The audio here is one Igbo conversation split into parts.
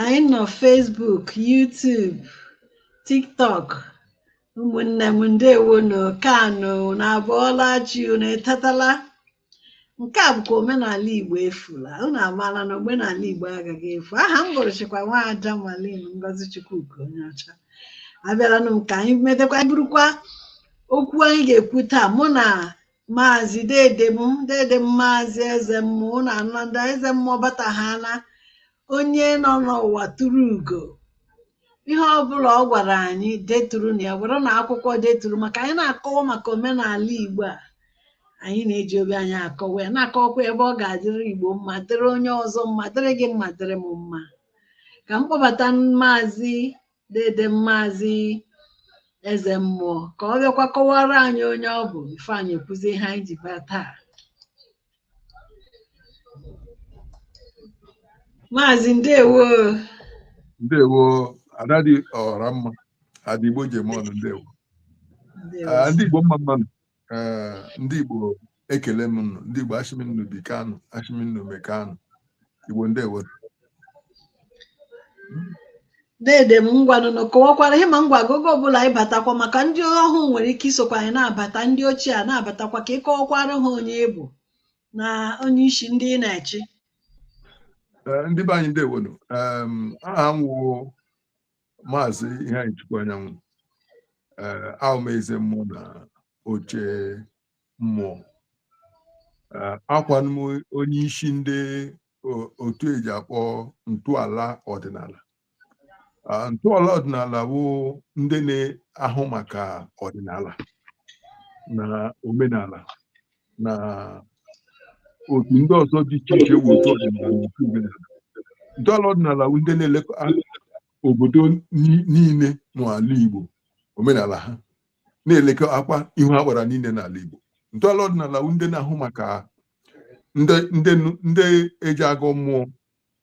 anyị nọ Facebook YouTube TikTok ụmụnne m ndewo nụ kanụ unu abọọla chi unu etetala nke a bụkwa omenala Igbo efula unu amaala na omenala Igbo agaghị efu aha m bụrụchịkwa nwaada Malin Ngozi Chukwuka onye ọcha abịaranụ m ka anyị metekwa burukwa okwu anyị ga-ekwu taa mụ na maazị dede m dede m maazị eze mmụọ ụnụ amaala ndị eze mmụọ bata ha na onye nọ n'ụwa turu ugo ihe ọbụla ọ gwara anyị deturu nụ ya were nụ akwụkwọ deturu maka anyị na-akọwa maka omenala igbo a anyị na-eji obi anyị akọwa ya na-akọwakwa ebe ọ ga-adịrị igbo mma dịrị onye ọzọ mma dịrị gị mma dịrị m mma ka m kpọbata maazị dede m maazị eze mmụọ ka ọ bịakwa kọwara anyị onye ọ bụ before anyị ekwuzi ihe anyị ji bịa taa maazị ndewo ndewo ada dị ọra mma ada igbo ji eme ọnụ ndewo ndewo Ah, ndị igbo mma mma nụ eh, ndị Igbo ekelee m unu ndị Igbo ashị m unu bikanụ ashị m unu mekanụ Igbo ndewonụ dede m ngwanụ na kọwakwara ihe ma ngwa agogo ọbụla anyị batakwa maka ndị ọhụụ nwere ike isokwa anyị na-abata ndị ochie a na-abatakwa ka ị kọwakwara ha onye ị bụ na onye isi ndị ị na-echi eh, ndị be anyị ndewonụ aha m wụ maazị Iheanyịchukwu Anyanwụ ee awụ m eze mmụọ na oche mmụọ ee awụkwanụ m onye isi ndị o- otu eji akpọ ntọala ọdịnala Ah, ntọala ọdịnala bụ ndị na-ahụ maka ọdịnala na omenala na otu ndị ọzọ dị iche iche bụ otu ọdịnala na otu omenala ntọala ọdịnala bụ ndị na-elekọta obodo ni- niile n'ala Igbo omenala ha na-elekọtakwa ihu agbara niile n'ala Igbo ntọala ọdịnala bụ ndị na-ahụ maka ndị ndị nụ- ndị eji agọ mmụọ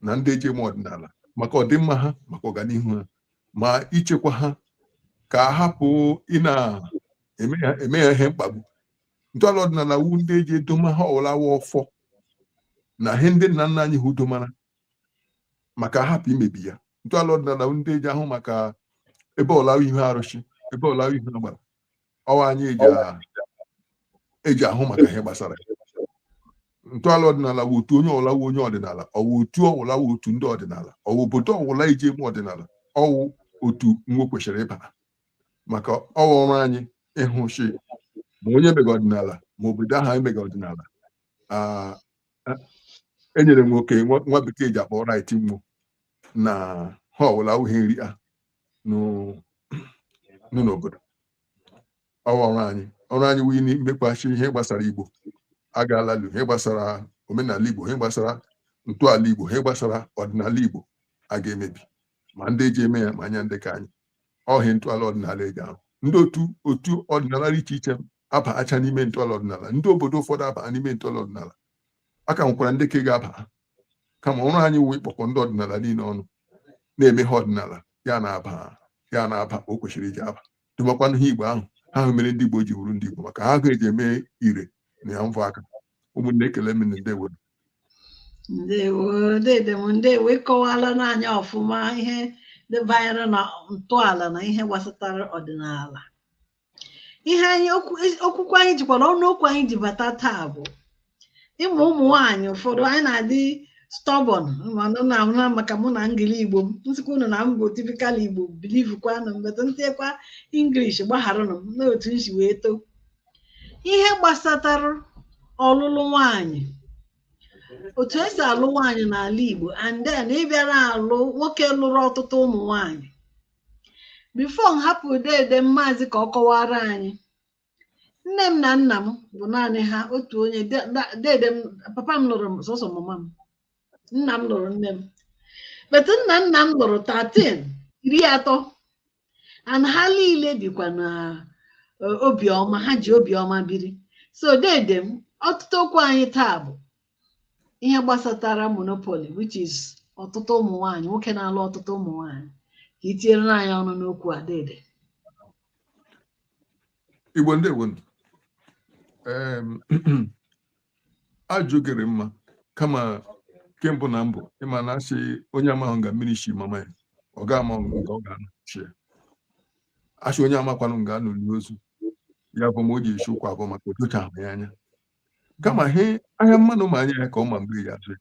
na ndị eji eme ọdịnala maka ọdịmma ha maka ọganihu ha ma ichekwa ha ka a hapụ ịna-eme ha eme ha ihe mkpagbu ntọala ọdịnala wu ndị eji edoma ihe ọwụla wụ ọfọ na ihe ndị nna nna anyị ha domara maka a hapụ imebi ya ntọala ọdịnala wu ndị eji ahụ maka ebe ọwụla wụ ihu arụsị ebe ọwụla wụ ihu agbara ọ wụ anyị eji ahụ maka ihe gbasara ntọala ọdịnala wụ otu onye ọwụla wụ onye ọdịnala ọ wụ otu ọwụla wụ otu ndị ọdịnala ọ wụ obodo ọwụla eji eme ọdịnala ọ wụ otu nwa kwesịrị ịbara maka ọ wụ ọrụ anyị ịhụ shi ma onye mega ọdịnala ma obodo ahụ anyị mega ọdịnala Ah, eh, enyere m oke nwa nwa bekee ji akpọ right nwo na ha ọwụla awụghị nri a nụ- nụ n'obodo ọ wụ ọrụ anyị ọrụ anyị wụ imekwa shi ihe gbasara igbo agaala lu ihe gbasara omenala igbo ihe gbasara ntọala igbo ihe gbasara ọdịnala igbo a ga-emebi ma ndị eji eme ya ma anya ndị ka anyị ọhịa ntọala ọdịnala eji ahụ ndị otu otu ọdịnala dị iche iche abacha n'ime ntọala ọdịnala ndị obodo ụfọdụ aba n'ime ntọala ọdịnala a ka nwekwara ndị ka ga-aba kama ọrụ anyị wụ ịkpọkọ ndị ọdịnala niile ọnụ na-eme ha ọdịnala ya na-aba ya na-aba o kwesịrị iji aba dụmakwanụ ha igbo ahụ ha hụ mere ndị igbo ji wụrụ ndị igbo maka ha ga-eji eme ire na ya mvọ aka ụmụnne ekele m ndewo ndewo dede m ndewo ị kọwaalara anyị ọfụma ihe ndị banyere na ntọala na ihe gbasatara ọdịnala ihe anyị okwu okwukwe anyị jikwa na ọnụ okwu anyị ji bata taa bụ ịmụ ụmụ nwaanyị ụfọdụ anyị na-adị stubborn mana na ahụ na maka mụ na engili igbo m m sịkwa unu na m bụ typical igbo believekwanụ m but m tiekwa English gbagharanụ m n'otu m si wee too ihe gbasatara ọlụlụ nwaanyị otu esi alụ nwaanyị n'ala Igbo and then ịbịara alụ nwoke lụrụ ọtụtụ ụmụ nwaanyị before m hapụ dede m mazi ka ọ kọwaara anyị nne m na nna m bụ naanị ha otu onye de- da- dede m papa m lụrụ sọsọ mama m nna m lụrụ nne m but nna nna m lụrụ 13 iri atọ and ha niile bikwa na eh, obiọma ha ji obiọma biri so dede m ọtụtụ okwu anyị taa bụ ihe gbasatara monopoly which is ọtụtụ ụmụ nwanyị nwoke na-alụ ọtụtụ ụmụ nwanyị ka i tinyere anyị ọnụ n'okwu a dede igbo ndewo nụ. Em, ajụ gị rị mma kama ke mbụ na mbụ ị ma na a sị onye amahụ nga mmiri shi mama ya ọ ga ama nga ọ ga-anọchi ya a sị onye amakwanụ nga a nọ lie ozu ya bụ ma o ji esi ụkwụ abọ maka otocha ahụ ya anya kama he ahịa mmanụ ma anya ya ka ọ ma mgbe ya azụ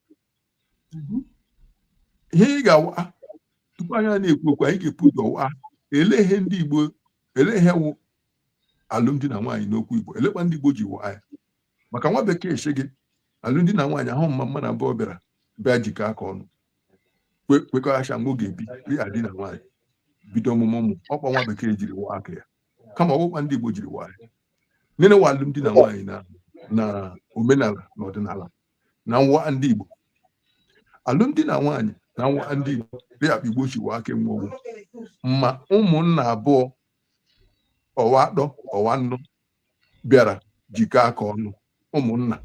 ihe ị ga-awa tupu anyị na-ekwu okwu anyị ga-ebu ụzọ wa ele ihe ndị Igbo ele ihe wụ alụmdi na nwaanyị n'okwu Igbo elekwa ndị Igbo ji wa ya maka nwa bekee sị gị alụmdi na nwaanyị wụ ma mmadụ abụọ bịara bịa jikọ aka ọnụ kwekọghacha mgbe oge ebi dịka di na nwaanyị bido ọmụmụ ụmụ ọkwa nwa bekee jiri waa aka ya kama ọkpụkpa ndị Igbo jiri waa ya nene wa alụmdi na nwaanyị na na omenala na ọdịnala na nwa ndị Igbo alụmdi na nwaanyị na nwa ndị Igbo dị akpa Igbo si waa aka enwe ogwu ma ụmụnna abụọ ọwa atọ ọwa anọ bịara jikọ aka ọnụ ụmụnna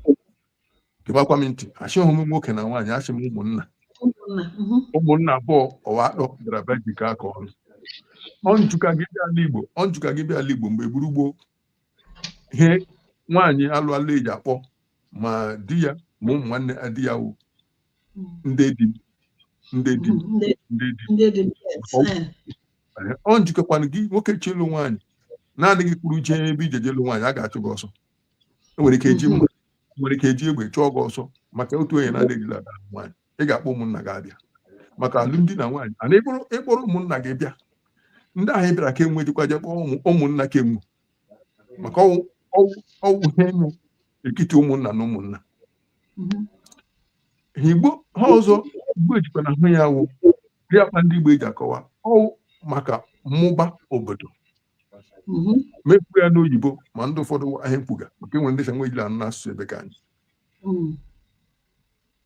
gebakwa m ntị asịghị m nwoke na nwaanyị asị m ụmụnna mhm. ụmụnna abụọ ọwa atọ bịara bịa jikọ aka ọnụ ọnjụka gị bịa ala Igbo ọnjụka gị bịa ala Igbo mgbe gburu gboo ihe nwaanyị alụ alụ eji akpọ ma di ya ma ụmụ nwanne di ya wụ ndị di m ndị di m ndị di m ọ njikọkwana gị nwoke chọ ịlụ nwaanyị naanị gị kwuru jee ebe ị jeje ịlụ nwaanyị a ga-achụ gị ọsọ enwere ike eji mma nwere ike eji egbe chụọ gị ọsọ maka otu onye na-adịghị alụ nwaanyị ị ga-akpọ ụmụnna gị abịa maka alụmdi na nwaanyị and ị kpọrọ ụmụnna gị bịa ndị ahụ bịara ka enwe ejikwa je kpọ ụmụnna ka enwu maka ọwụ ihe nọ etiti ụmụnna na ụmụnna mhm. ihe igbo ihe ọzọ igbo ejikwa na-ahụ ya wụ dị akpa ndị igbo eji akọwa ọwụ maka mmụba obodo mhm. m ekwu ya n'oyibo ma ndị ụfọdụ ahụ ihe m kwuga maka enwere ndị sị enwe ejila anụ n'asụsụ ebe ka anyị mhm.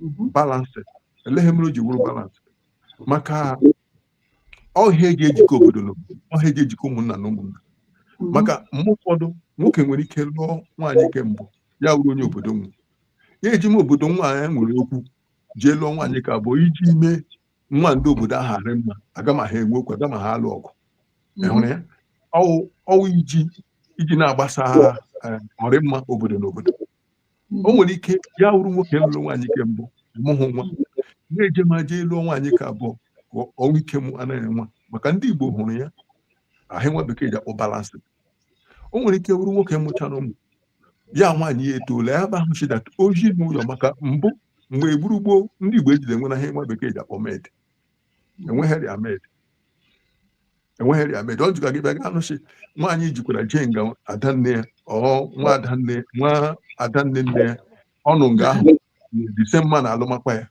mhm. balance ele ihe mere o ji wụrụ balance maka ọ ihe eji ejikọ obodo na obodo ọ ihe eji ejikọ ụmụnna na ụmụnna mhm. maka mgbe ụfọdụ nwoke nwere ike lụọ nwaanyị nke mbụ ya wụrụ onye obodo nwe ya ejeme obodo nwaanyị nwere okwu jee lụọ nwaanyị ke abụọ iji mee nwa ndị obodo ahụ arị mma aga ma ha enwe okwu aga ma ha alụ ọgụ mhm. ịhụrụ ya ọwụ iji iji na-agbasa ọrịmma obodo na obodo o nwere ike ya wụrụ nwoke lụrụ nwaanyị ke mbụ amụhụ nwa ya ejeme jee lụọ nwaanyị ke abụọ ka o nwee ike mụọ nwa maka ndị Igbo hụrụ ya ka ihe nwa bekee ji akpọ balance o nwere ike wụrụ nwoke mụchara ụmụ ya nwaanyị ya etoola ya ba ahụ sị that ozi n'ụlọ maka mbụ mgbe gburu gboo ndị Igbo ejila enwe na ihe nwa bekee ji akpọ maid enweghịrị maid enweghịrị maid ọ jụka gị bịa ga-anụ sị nwaanyị jikwara jee nga adanne ya ọwa adanne ọwa adanne nne ya ọ nọ nga ahụ the same man alụmakwa ya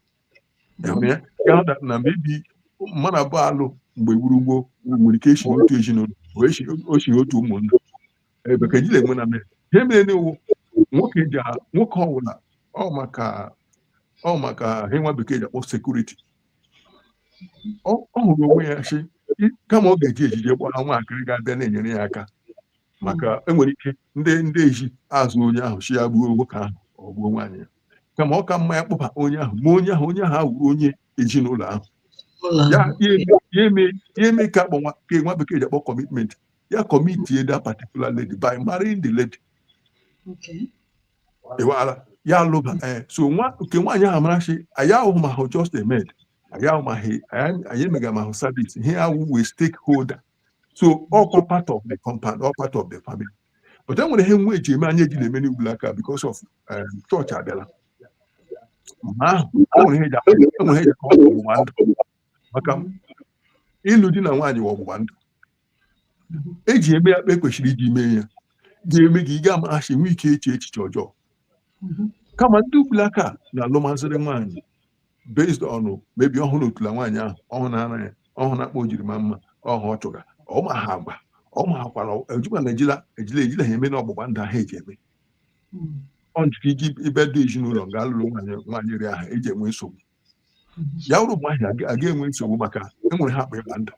Ịhụrụ ya? Ya na- na mebi mmadụ abụọ alụ mgbe gburu gboo nwere ike esi otu ezinụlọ o esi- o si otu ụmụnna ebe ka ejila enwe na mere ihe mere nụ wụ nwoke ji a- nwoke ọwụla ọ maka ọ maka ihe nwa bekee ji akpọ security ọ ọ hụrụ onwe ya sị "I- kama ọ ga-eji ejije gbara nwaakịrị ga-abịa na-enyere ya aka maka enwere ike ndị ndị ezi azụ onye ahụ si ya gbuo nwoke ahụ ọ gbuo nwaanyị ya kama ọ ka mma ya kpọba onye ahụ ma onye ahụ onye ahụ awụrụ onye ezinụlọ ahụ ụlọ ya ahụ. ya eme- ya eme ya eme ka akpọ nwa ka nwa bekee ji akpọ commitment ya commitie the particular lady by marrying the lady Okay. ịwala ya alụba ee so nwa nke nwaanyị ahụ mara sị ya ahụ ma ahụ just a maid anyị ahụ ma ahụ anyị anyị emega ma ahụ service ihe awụ we stakeholder so ọkwa part of the compound ọ part of the family but e nwere ihe nwa eji eme anyị eji na-eme n'ugbulaka because of um, chọọchị abịala mgbe ahụ e nwere ihe eji akpọ- e nwere ihe eji akpọ ọgbụgba ndụ maka ịlụ di na nwaanyị wụ ọgbụgba ndụ eji eme ya kpa e kwesịrị iji mee ya ga-eme gị ị ga-ama asị nwee ike eche echiche ọjọọ kama ndị ugbulaka na-alụmazịrị nwaanyị based on maybe ọhụrụ otula nwaanyị ahụ ọhụrụ na ara ya ọhụrụ na kpa o jiri maa mma ọhụ ọ chụga ọma ha agwa ọma ha kwara ejikwa na ejila ejila ejila ha eme na ọgbụgba ndụ ahụ eji eme ọ njika iji ibe dị ezinụlọ nga alụrụ nwaanyị nwaanyị iri ahụ eji enwe nsogbu ya bụrụ mgbe ahụ aga- aga enwe nsogbu maka enwere ihe akpọ ịgba ndụ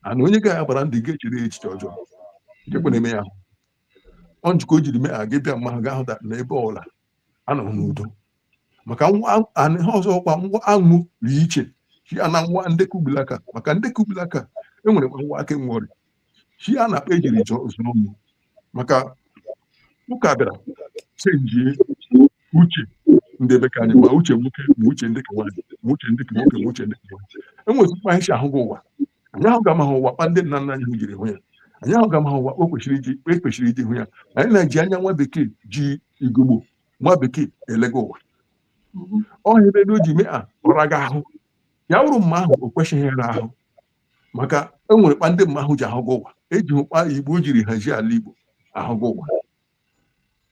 and onye ga ya gbara ndụ ị ga-echere ya echiche ọjọọ jekwe na-eme ya ahụ ọ njika o jiri mee aga bịa mma ahụ ga-ahụta na ebe ọbụla anọghị n'udo maka nwa anụ ihe ọzọkwa nwa anwụ dị iche ya na nwa ndị ke ugbulaka maka ndị ke ugbulaka enwere nwa aka enwe ọrịa chi a na-akpa ejiri chọọ zụọ m maka ụka bịara chenjie uche ndị ebe ka anyị ma uche nwoke ma uche ndị ka nwaanyị ma uche ndị ka nwoke ma uche ndị ka nwaanyị enwezi kpa anyị si ahụgụ ụwa anyị ahụ ga amaghị ụwa kpa ndị nna nna anyị hụ jiri hụ ya anyị ahụ ga amaghị ụwa o kwesịrị iji e kwesịrị iji hụ ya anyị na-eji anya nwa bekee ji ugogbe nwa bekee elega ụwa ọhịa ebe o ji mee a ọ raga ahụ ya wụrụ mma ahụ o kwesịghị ịra ahụ maka e nwere kpa ndị mma ahụ ji ahụgụ ụwa eji hụ kpa igbo jiri hazi ala igbo ahụgụ ụwa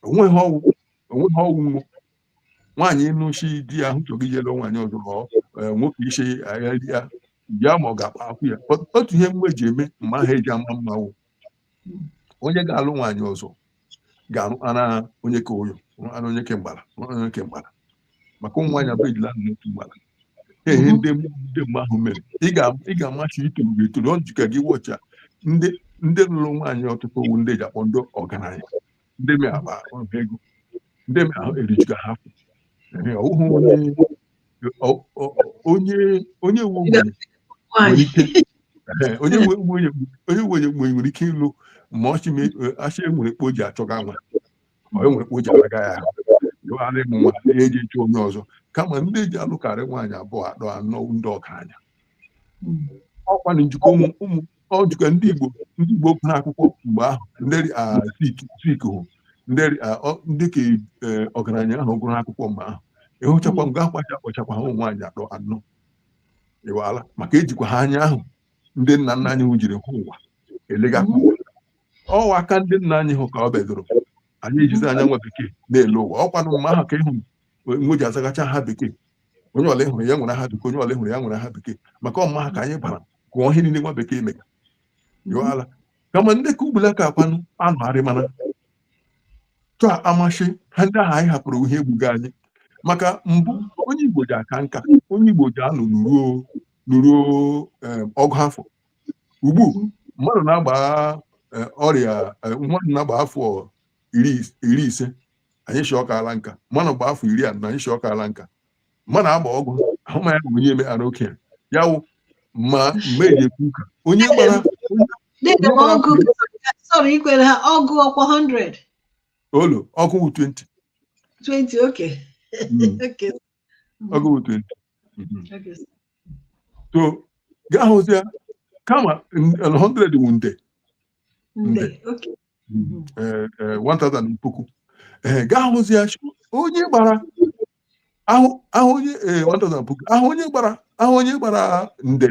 onweghị ọwụ onweghị ọwụ nwo nwaanyị nụ sị di ya ahụ chọgị ije lụ nwaanyị ọzọ ma ọ eh, nwoke isi agha ya ya ma ọ ga-akpa akwụ ya Ọ- otu ihe mgbe ji eme mma ha eji ama mmanwụ onye ga-alụ nwaanyị ọzọ ga-arụara onye ke ụyọ rụara onye ke mgbara ara onye ke mgbara maka ụmụ nwaanyị abụọ ejila nọ n'otu mgbara ehe ndị ndị mgbe ahụ mere ị ga- ị ga-ama sị i toro gị etoro ọ njika gị wọcha ndị ndị lụrụ nwaanyị ọtụtụ ọ wụ ndị ji akpọ ndị ọgaranya ndị mị agba ọnụ ego ndị mị ahụ erijuga ha afọ Ehe, ọ bụghị onye ọ- ọ- onye onye nwe ogbenye nwere Nwaanyị. ike Ehe, onye nwe ogbenye onye nwe ogbenye nwere ike ịlụ ma ọ shị me- eh, a shị enwere kpo ji achọga nwa ma enwere kpo ji alaga ya ahụ yọgharị m nwa ya ejee chọọ onye ọzọ kama ndị ji alụkarị nwaanyị abụọ atọ anọ ndị ọgaranya ọkwa na njikọ ụmụ ụmụ ọ dịka ndị Igbo ndị Igbo gụrụ akwụkwọ mgbe ahụ ndị ah, Zik Zik hụ ndị ah, ọ- ndị ka eh, ọgaranya ahụ gụrụ akwụkwọ mgbe ahụ ịhụchakwa m ga-akwacha akpọchakwa ha ụmụ nwaanyị atọ anọ ị mala maka ejikwa ha anya ahụ ndị nna nna anyị hụ jiri hụ ụwa elegakwa ụwa ọwụ aka ndị nna anyị hụ ka o bidoro anyị ejizi anya nwa bekee na-ele ụwa ọkwanụ mgbe ahụ ka ịhụ nwe ji azagacha aha bekee onye ọla ịhụrụ ya nwere aha bekee onye ọla ịhụrụ ya nwere aha bekee maka ọmụma ha ka anyị bara gụọ ihe niile nwa bekee mega yụọ ala kama ndị ka ugbula ka akwanụ anụ arị mana chọọ ịma shị ihe ndị ahụ anyị hapụrụ wụ ihe egbuga anyị maka mbụ onye igbo ji aka nka onye igbo ji anọ nọruo nọruo em, ọgụ afọ ugbu mmadụ na-agba eh, ọrịa eh, mmadụ na-agba afọ iri is- iri ise anyị shị ọ kaala nka mmanụ gba afọ iri anọ anyị shị ọ kaala nka mmadụ agba ọgụ ahụ ma ya bụ onye emeela okenye ya wụ ma mgbe eji ekwu ụka onye gbara Dede m ọgụ sọrọ ikwere ha ọgụ ọkwa 100 olo ọgụ wụ 20 20 okay Mm. okay ọgụ wụ 20 Mhm. okay so ị ga-ahụzi ya kama n- 100 wụ nde nde okay eh, eh, 1000 puku ee ị ga-ahụzi ya onye gbara ahụ ahụ onye ee, ọ dọzara puku ahụ onye gbara ahụ onye gbara nde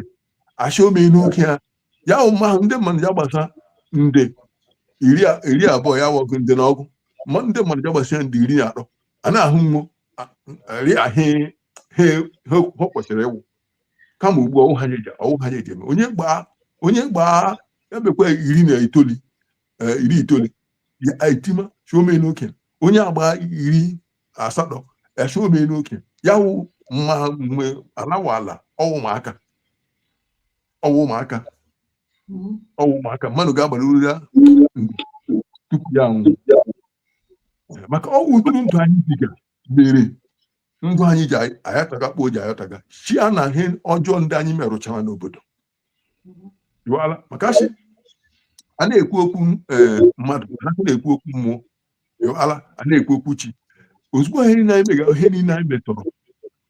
a shị o meene okenye ya wụ ma ahụ ndị mmadụ ja-agbasa nde iri a- iri abụọ ya wụ ọgụ nde na ọgụ ma ndị mmadụ ja-agbasa nde iri na atọ a na-ahụ nwo ri ahị ha ha kwesịrị ịwụ kama ugbu a ọwụ ha nyeje ọwụ ha nyeje eme onye gbaa onye gbaa ya bekwa iri na itoli eh, iri itoli ya etima shị o meene okenye onye agbaa iri asatọ a shị o meene okenye ya wụ ma mgbe alawa ala ọwụ ụmụaka ọwụ ụmụaka ọwụ ụmụaka mmadụ ga-agbara uru ya tupu ya anwụ maka ọwụ ụdịrị ndụ anyị biga mere ndụ anyị ji ayataga kpoo ji ayataga ya na ihe ọjọọ ndị anyị merụchara n'obodo iwala maka shi a na-ekwu okwu eh, mmadụ a na-ekwu okwu mmụọ iwala a na-ekwu okwu chi ozugbo ihe niile anyị mega ihe niile anyị metọrọ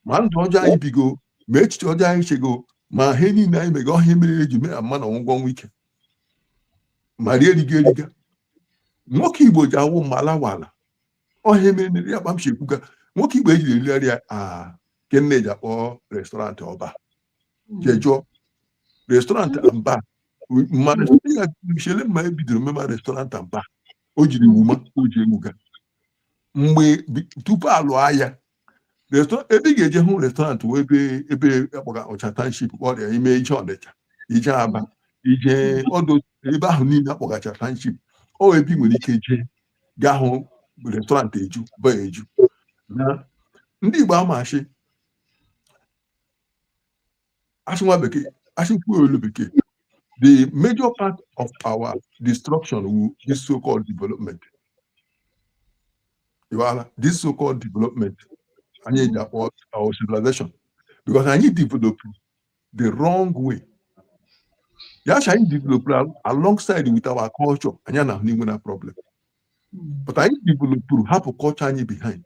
ma ndụ ọjọọ anyị bigo ma echiche ọjọọ anyị chego ma ihe niile anyị mega ọhịa mere eji mee mma na ọgwụgwọ nwa ike ma rie eriga eriga nwoke igbo ji awụ mma lawala ọhịa mere nri ya kpa m shi ekwuga nwoke igbo ejiri erigharị ya a ke eji akpọ restaurant ọba jejụọ restaurant amba ma chele mma ebidoro mema restaurant amba o jiri wuma o ji ewuga mgbe tupu alụọ agha ebe ị ga-eje hụ restaurant wụ ebe ebe akpọgacha township ọrịa ime ije ọnịcha ije aba ije ọdụ ebe ahụ niile akpọgacha township ọ ebe ị nwere ike jee gaa hụ restaurant eju baa eju na ndị Igbo amachi asị nwa bekee asị kwuo olu bekee the major part of our destruction wụ this so-called development iwala this so-called development anyị ji akpọ our civilization because anyị developuru the wrong way ya sị anyị developuru alongside with our culture anyị anaghị inwe problem but anyị developuru hapụ culture anyị behind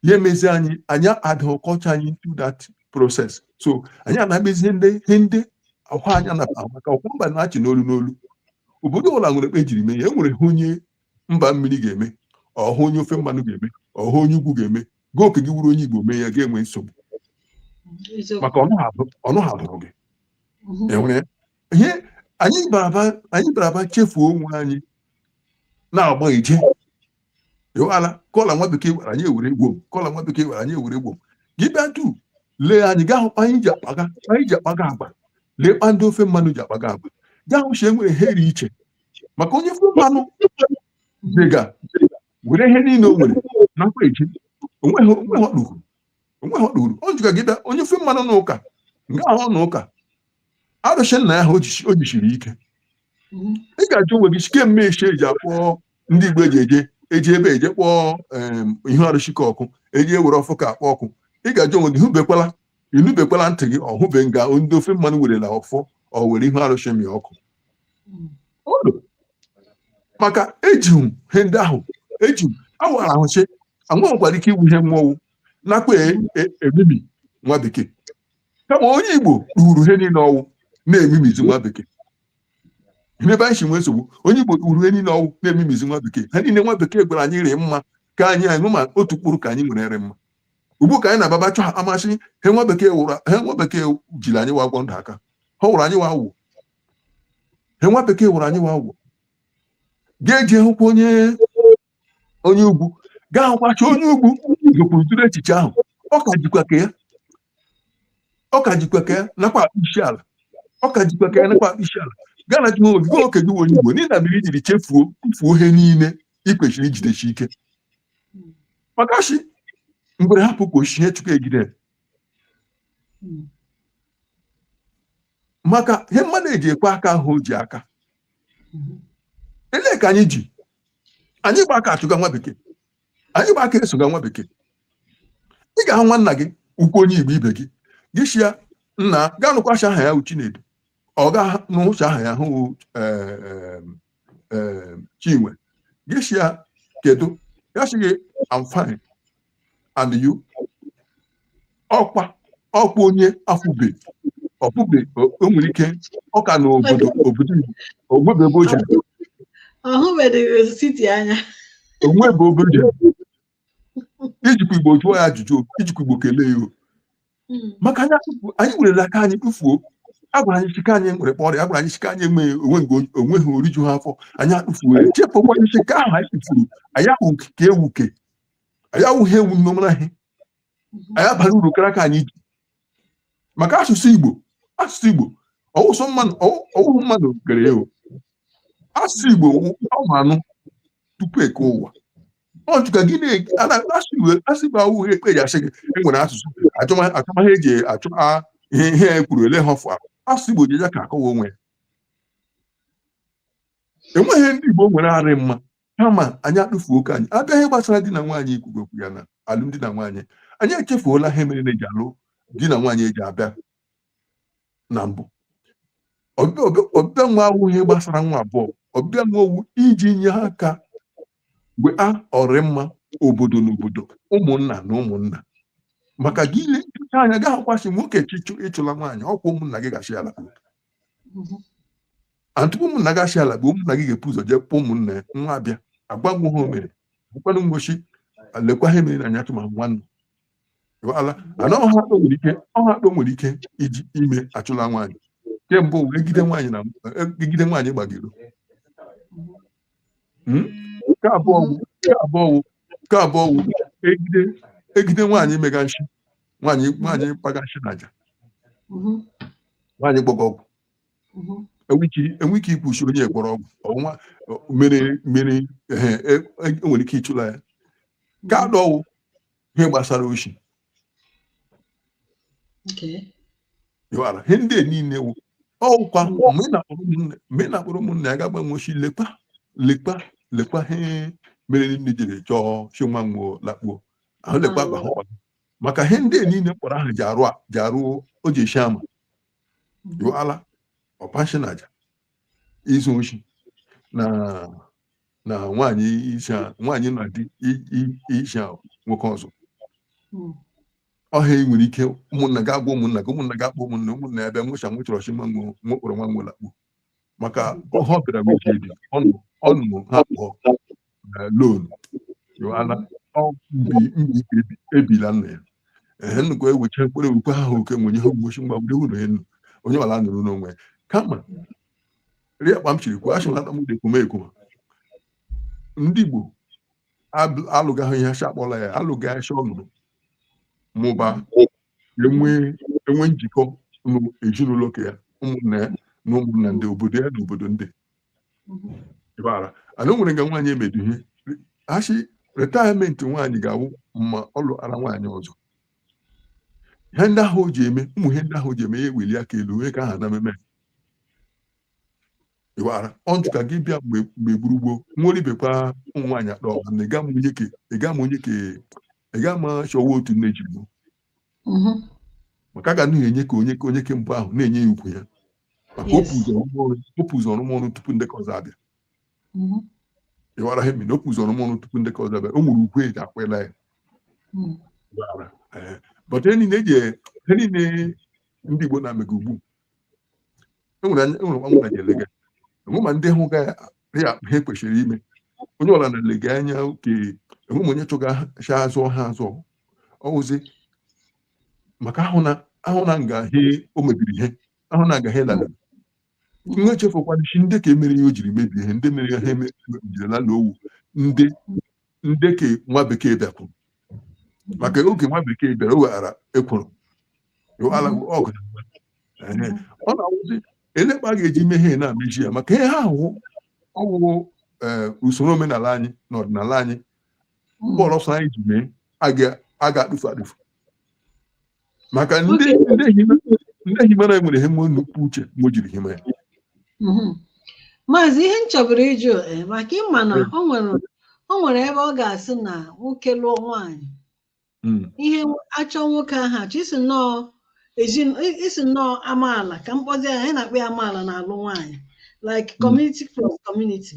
ya emezi anyị anyị adịghị culture anyị into that process so anyị anabezie ndị ihe ndị ọkwa anya na maka ọkwa mba na-achị n'olu n'olu obodo ọbụla nwere kpa ejiri mee ya enwere ihe onye mba mmiri ga-eme ọhụ onye ofe mmanụ ga-eme ọhụ onye ugwu ga-eme gị oke gị wụrụ onye igbo mee ya ga-enwe nsogbu maka ọnụ ha bụrụ gị enwere ihe anyị baraba chefuo onwe anyị na-agba ije iwala kọla nwa bekee gwara anyị ewere egwu m kọla nwa bekee gwara anyị ewere egwu m gị bịa tu lee anyị gaa hụ kpa anyị ji akpaga anyị ji akpaga agwa lee kpa ndị ofe mmanụ ji akpaga agwa gaa hụ shi enwere ihe dị iche maka onye ofe mmanụ dịga were ihe niile o nwere nakwa eji onweghị onweghị ọ duhuru onweghị ọ duhuru o jiga gị bịa onye ofe mmanụ n'ụka nga ahụ na ụka arụsị nna ya ha o jisiri ike ị ga-ajụ onwe gị sị kee mme echi eji akpọ ndị igbo eji eje eji ebe eje kpọọ ihu arụsị ka ọkụ eji ewere ọfọ ka akpọ ọkụ ị ga-ajụ onwe gị hụbekwala ịnụbekwala ntị gị ọhụbe nga ndị ofe mmanụ werela ọfọ ọ were ihu arụsị mịa ọkụ maka eji ihe ndị ahụ eji awara ahụchi anwa nwekwara ike iwu ihe wa ọ wụ nakwa e- e- emimi nwa bekee kama onye igbo duhuru ihe niile ọ wụ na-emimizi nwa bekee Ihe ebe anyị si nwee nsogbu onye igbo duhuru ihe niile ọ wụ na-emimizi nwa bekee ihe niile nwa bekee gwara anyị rị mma ka anyị anyị ma otu mkpụrụ ka anyị nwere rị mma ugbu ka anyị na-ababa chọ ha amasị ha nwa bekee wụrụ ha nwa bekee jiri anyị wa agwọ ndụ aka ha wụrụ anyị wa awụ ihe nwa bekee wụrụ anyị wa awụ ga-eji hụkwa onye onye ugwu gaa hụkwacha onye ugwu gokwuru tụrụ echiche ahụ ọ ka jikwa ka ya ọ ka jikwa ka ya nakwa akpọ isi ala ọ ka jikwa ka ya nakwa akpọ isi ala gaa na jụọ obi gwa oke gị onye igbo n'ihi na mmiri jiri chefuo tufuo ihe niile ị kwesịrị ijidesi ike maka shi mgbe hapụ ihe chukwu egide hmm. maka ihe mmadụ eji ekwe aka ahụ o ji aka hmm. ele ka anyị ji anyị gba aka achụga nwa bekee anyị gba aka esoga nwa bekee ị ga-ahụ nwanna gị ukwu onye igbo ibe gị gị sị ya nna gaa nụkwacha aha ya wụ chinedu ọ ga anụcha aha ya wụ e, e, eh, chinwe gị sị ya kedu ya sị gị I'm fine and you ọkwa ọkwa onye afụbe ọfụbe o- o nwere ike ọ ka nọ obodo obodo Igbo, o nwebe ebe o jere ọ hụbeghị siti anya o nwebe obodo o jere i jikwa igbo jụọ ya ajụjụ i jikwa igbo kelee ya hmm. maka anyị anyị werela aka anyị kpụfuo a gwara anyị shi ke anyị nwere kpọrọ ya gwara anyị shi ke anyị enweghị onwe onweghị oriju ha afọ anyị akpụfuo ya chepụ anyị shi ke ahụ anyị kpụfuru anyị ahụ ka ewu ke anyị awụghị ewu nnọmara ihe hmm. anyị abara uru kara ka anyị ji maka asụsụ igbo asụsụ igbo ọ wụsọ mmadụ ọ wụhụ mmadụ kere ewu asụsụ igbo ọ ma anụ tupu e kee ụwa Punch ka gị na-ege a na asụsụ Igbo awụghị ekpe eji asị gị e nwere asụsụ achọma achọmaha eji achọ a ihe ihe e kwuru ele ha ọfụ ahụ asụsụ Igbo ji ya ka akọwa onwe ya enweghị ndị Igbo nwere arị mma kama anyị atụfuo oke anyị abịa ihe gbasara di na nwaanyị i kwuga okwu ya na alụmdi na nwaanyị anyị echefuola ihe mere na eji alụ di na nwaanyị eji abịa na mbụ ọbịbịa nwa awụ ihe gbasara nwa abụọ ọbịbịa nwa ọ wụ iji nye aka mgbe a ọrịmma obodo na obodo ụmụnna na ụmụnna maka gị ile nchụcha anya ga-ahụkwa shi nwoke chọọ ịchụla nwaanyị ọkwa ụmụnna gị ga-achụla ya tupu ụmụnna ga-achụla bụ ụmụnna gị ga-ebu ụzọ jee kpọọ ụmụnna ya wa abịa agwa wa ihe o mere bụkwanụ ngosi lekwa ihe mere na anya tụma nwanne ala ana ọha akpọ nwere ike ọha akpọ nwere ike iji ime achụla nwaanyị ke mbụ wụ egide nwaanyị na egide nwaanyị gbaga iro Hmm? nke abụọ wụ nke abụọ wụ nke abụọ wụ egide egide nwaanyị mega nshi nwaanyị nwaanyị kpaga nshi na aja Mhm. nwaanyị gwọga ọgwụ Mhm. enwe ike enwe ike ikwu shi onye gwọrọ ọgwụ ọnwa mere mere ehe, e- e- enwere ike ịchụla ya nke anọ wụ ihe gbasara oshi ịghara ihe ndị niile wu ọkwa mgbe ị na-akpọrọ ụmụnne ya ga-agba nwochi lekwa lekwa lekwa ihe mere nne jiri chọọ shi nwa nwo lakpuo ahụ lekwa gwa ha ọzọ maka ihe ndị niile mkpọrọ ahụ ji arụ ji arụ o ji eshi ama jụala ọkpa nshi na aja izu oshi na na nwaanyị isha nwaanyị na di i- i- isha nwoke ọzọ Mm. ọha ị nwere ike ụmụnna gị agwa ụmụnna gị ụmụnna gị akpọ ụmụnna ụmụnna ya bịa nwụcha nwụchọrọ ọchị nwa nwe nwa kpọrọ nwa nwo lakpuo maka ọha ọ bịara nwuche dị ọnụ ọnụ ha kpọ lon yoala mbi mbi ka ebi- ebila nna ya ehe nnukwu ewecha mkpụrụ ewukwe ha oke nwenye ha ugbochi mgba were ụlọ enu onye ọla nọrọ n'onwe ya. kama rie akpa m shiri kwuo achị nata m na-ekwuma ekwuma ndị Igbo alụgaghị ihe acha akpọla ya alụga acha ọnụnụ mba enwe enwe njikọ n'ezinụlọ ka ya ụmụnna ya na ụmụnna ndị obodo ya na obodo ndị ịbara ana o nwere nga nwaanyị emedu ihe a shị retirement nwaanyị ga-awụ ma ọ lụara nwaanyị ọzọ ihe ndị ahụ o ji eme ụmụ ihe ndị ahụ o ji eme ya eweli aka elu onye ka aha na mmemme iwara ọnjụ ka gị bịa mgbe mgbe gburugburu nwere ibekwa ụmụ nwaanyị akpa ọgụ na ịga ma onye ke ịga ma onye ke ịga ma chọwa otu nne ji gbuo Mhm. maka a ga na-enye ka onye onye ke mbụ ahụ na-enye ya ugwu ya maka Yes. o pu ụzọ rụma ọrụ o pu ụzọ rụma ọrụ tupu ndị ke ọzọ abịa Mhm. ịwara ha na o pu ụzọ rụma ọrụ tupu ndị ke ọzọ abịa o nwere ugwu eji akwela ya Mhm. Ịwara, eh. but ihe niile eji ihe niile ndị Igbo na-emega ugbu enwere anya- enwere nwa nwaanyị elega enwe ma ndị hụ ga ya ha kwesịrị ime onye ọla na-elega anya oke enwe ma onye chọga shi azụ ha azụ ọwụzi maka ahụ na ahụ na nga he o mebiri ihe ahụ na nga he lala nwa echefukwana shi ndị ka emere ihe o jiri mebie ihe ndị mere ya ha eme- mebirila na ọ wụ ndị ndị ke nwa bekee bịakwuru maka oge nwa bekee bịara o weghara ekworo o ala ọgụ na mgba. Ehe. ọ na-awụzi e lee kpa a ga-eji mee ihe na-amechi ya maka ihe ahụhụ ọwụwụ ee usoro omenala anyị na ọdịnala anyị mkpọrọ ọsọ anyị ji mee a ga- a ga-atụfu atụfu maka ndị himara nwere ihe nnukwu uche wo jiri hima ya mhm. maazị ihe m chọburu ịjụ eh, maka ịma na o nwere ebe ọ ga-asị na nwoke lụọ nwaanyị hmm. ihe achọ nwoke ahụ achọ isi nnọọ isi nnọọ amaala ka m kpọzie ya anyị na-akpọ ya amaala na-alụ nwaanyị like hmm. community plus community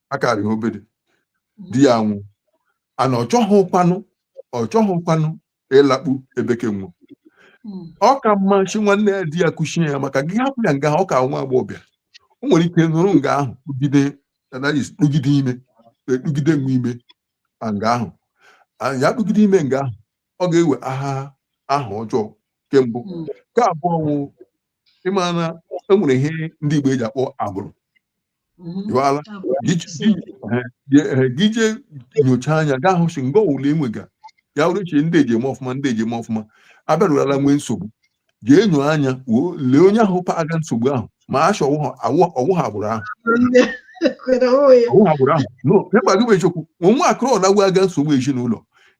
akarị obere di ya anwụ and ọ chọghịkwanụ ọ chọghịkwanụ ịlakpu ebeke nwụ hmm. ọ ka mma si nwanne di ya kuchie ya maka gị hapụ ya nga ọ ka wụ agbọghọbịa o nwere ike nọrọ nga ahụ kpụgide kpụgide ime ekpugide nwa ime nga ahụ ya kpụgide ime nga ahụ ọ ga-ewe aha aha ọjọọ ke mbụ hmm. nke abụọ wụ ịma na enwere ihe ndị Igbo eji akpọ agbụrụ Mm-hmm. ị ghọtala gị jee nyocha anya gaa hụ si mgbe ọwụla enwega ya wụrụ eche ndị eji eme ọfụma ndị eji eme ọfụma abịarụrala nwee nsogbu jee nyo anya lee onye ahụ kpaga nsogbu ahụ ma si ọ wụ agbụrụ ahụ ọ wụ agbụrụ ahụ n'ịgwa gị eziokwu nwaakịrị ọwụla kpaga nsogbu ezinụlọ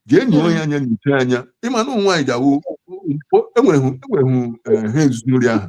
jee nyo onye anya nyocha anya ịma na ụmụ nwaanyị ji awụ enwereghị e e eh, ha ezinụlọ ahụ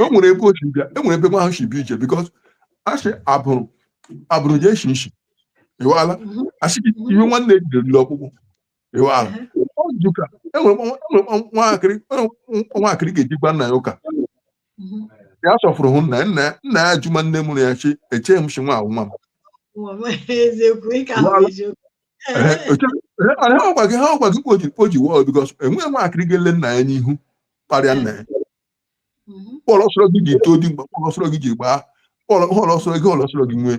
o nwere ebe o si bịa e nwere ebe nwa ahụ si bịa ije because asị agbụrụ agbụrụ na-esi isi ịwala Mhm. asị gị Mhm. iwe nwanne ejighị eru ọkpụkpụ ịwala Ehe. ọ jụ ka e nwere nwa- e nwere nwa- nwaakịrị e nwere nwa- nwaakịrị ga-eji gwa nna ya ụka Mhm. ya sọfụrụ hụ nna ya nna ya nna ya jụma nne mụrụ ya si echeghị m si nwa ahụ nwa m Nwa m, eziokwu ị ka hụrụ eziokwu Ehe, eche- ehe, ọ na- ha gwa gị ha gwa gị kpoji kpoji wọl because enweghị nwaakịrị ga-ele nna ya n'ihu kparịa nna ya họọlụ ọsọrọ gị ji eto dimkpa họọlụ ọsọrọ gị ji gbaa bọọlụ họọlụ ọsọrọ gị họọlụ ọsọrọ gị nwee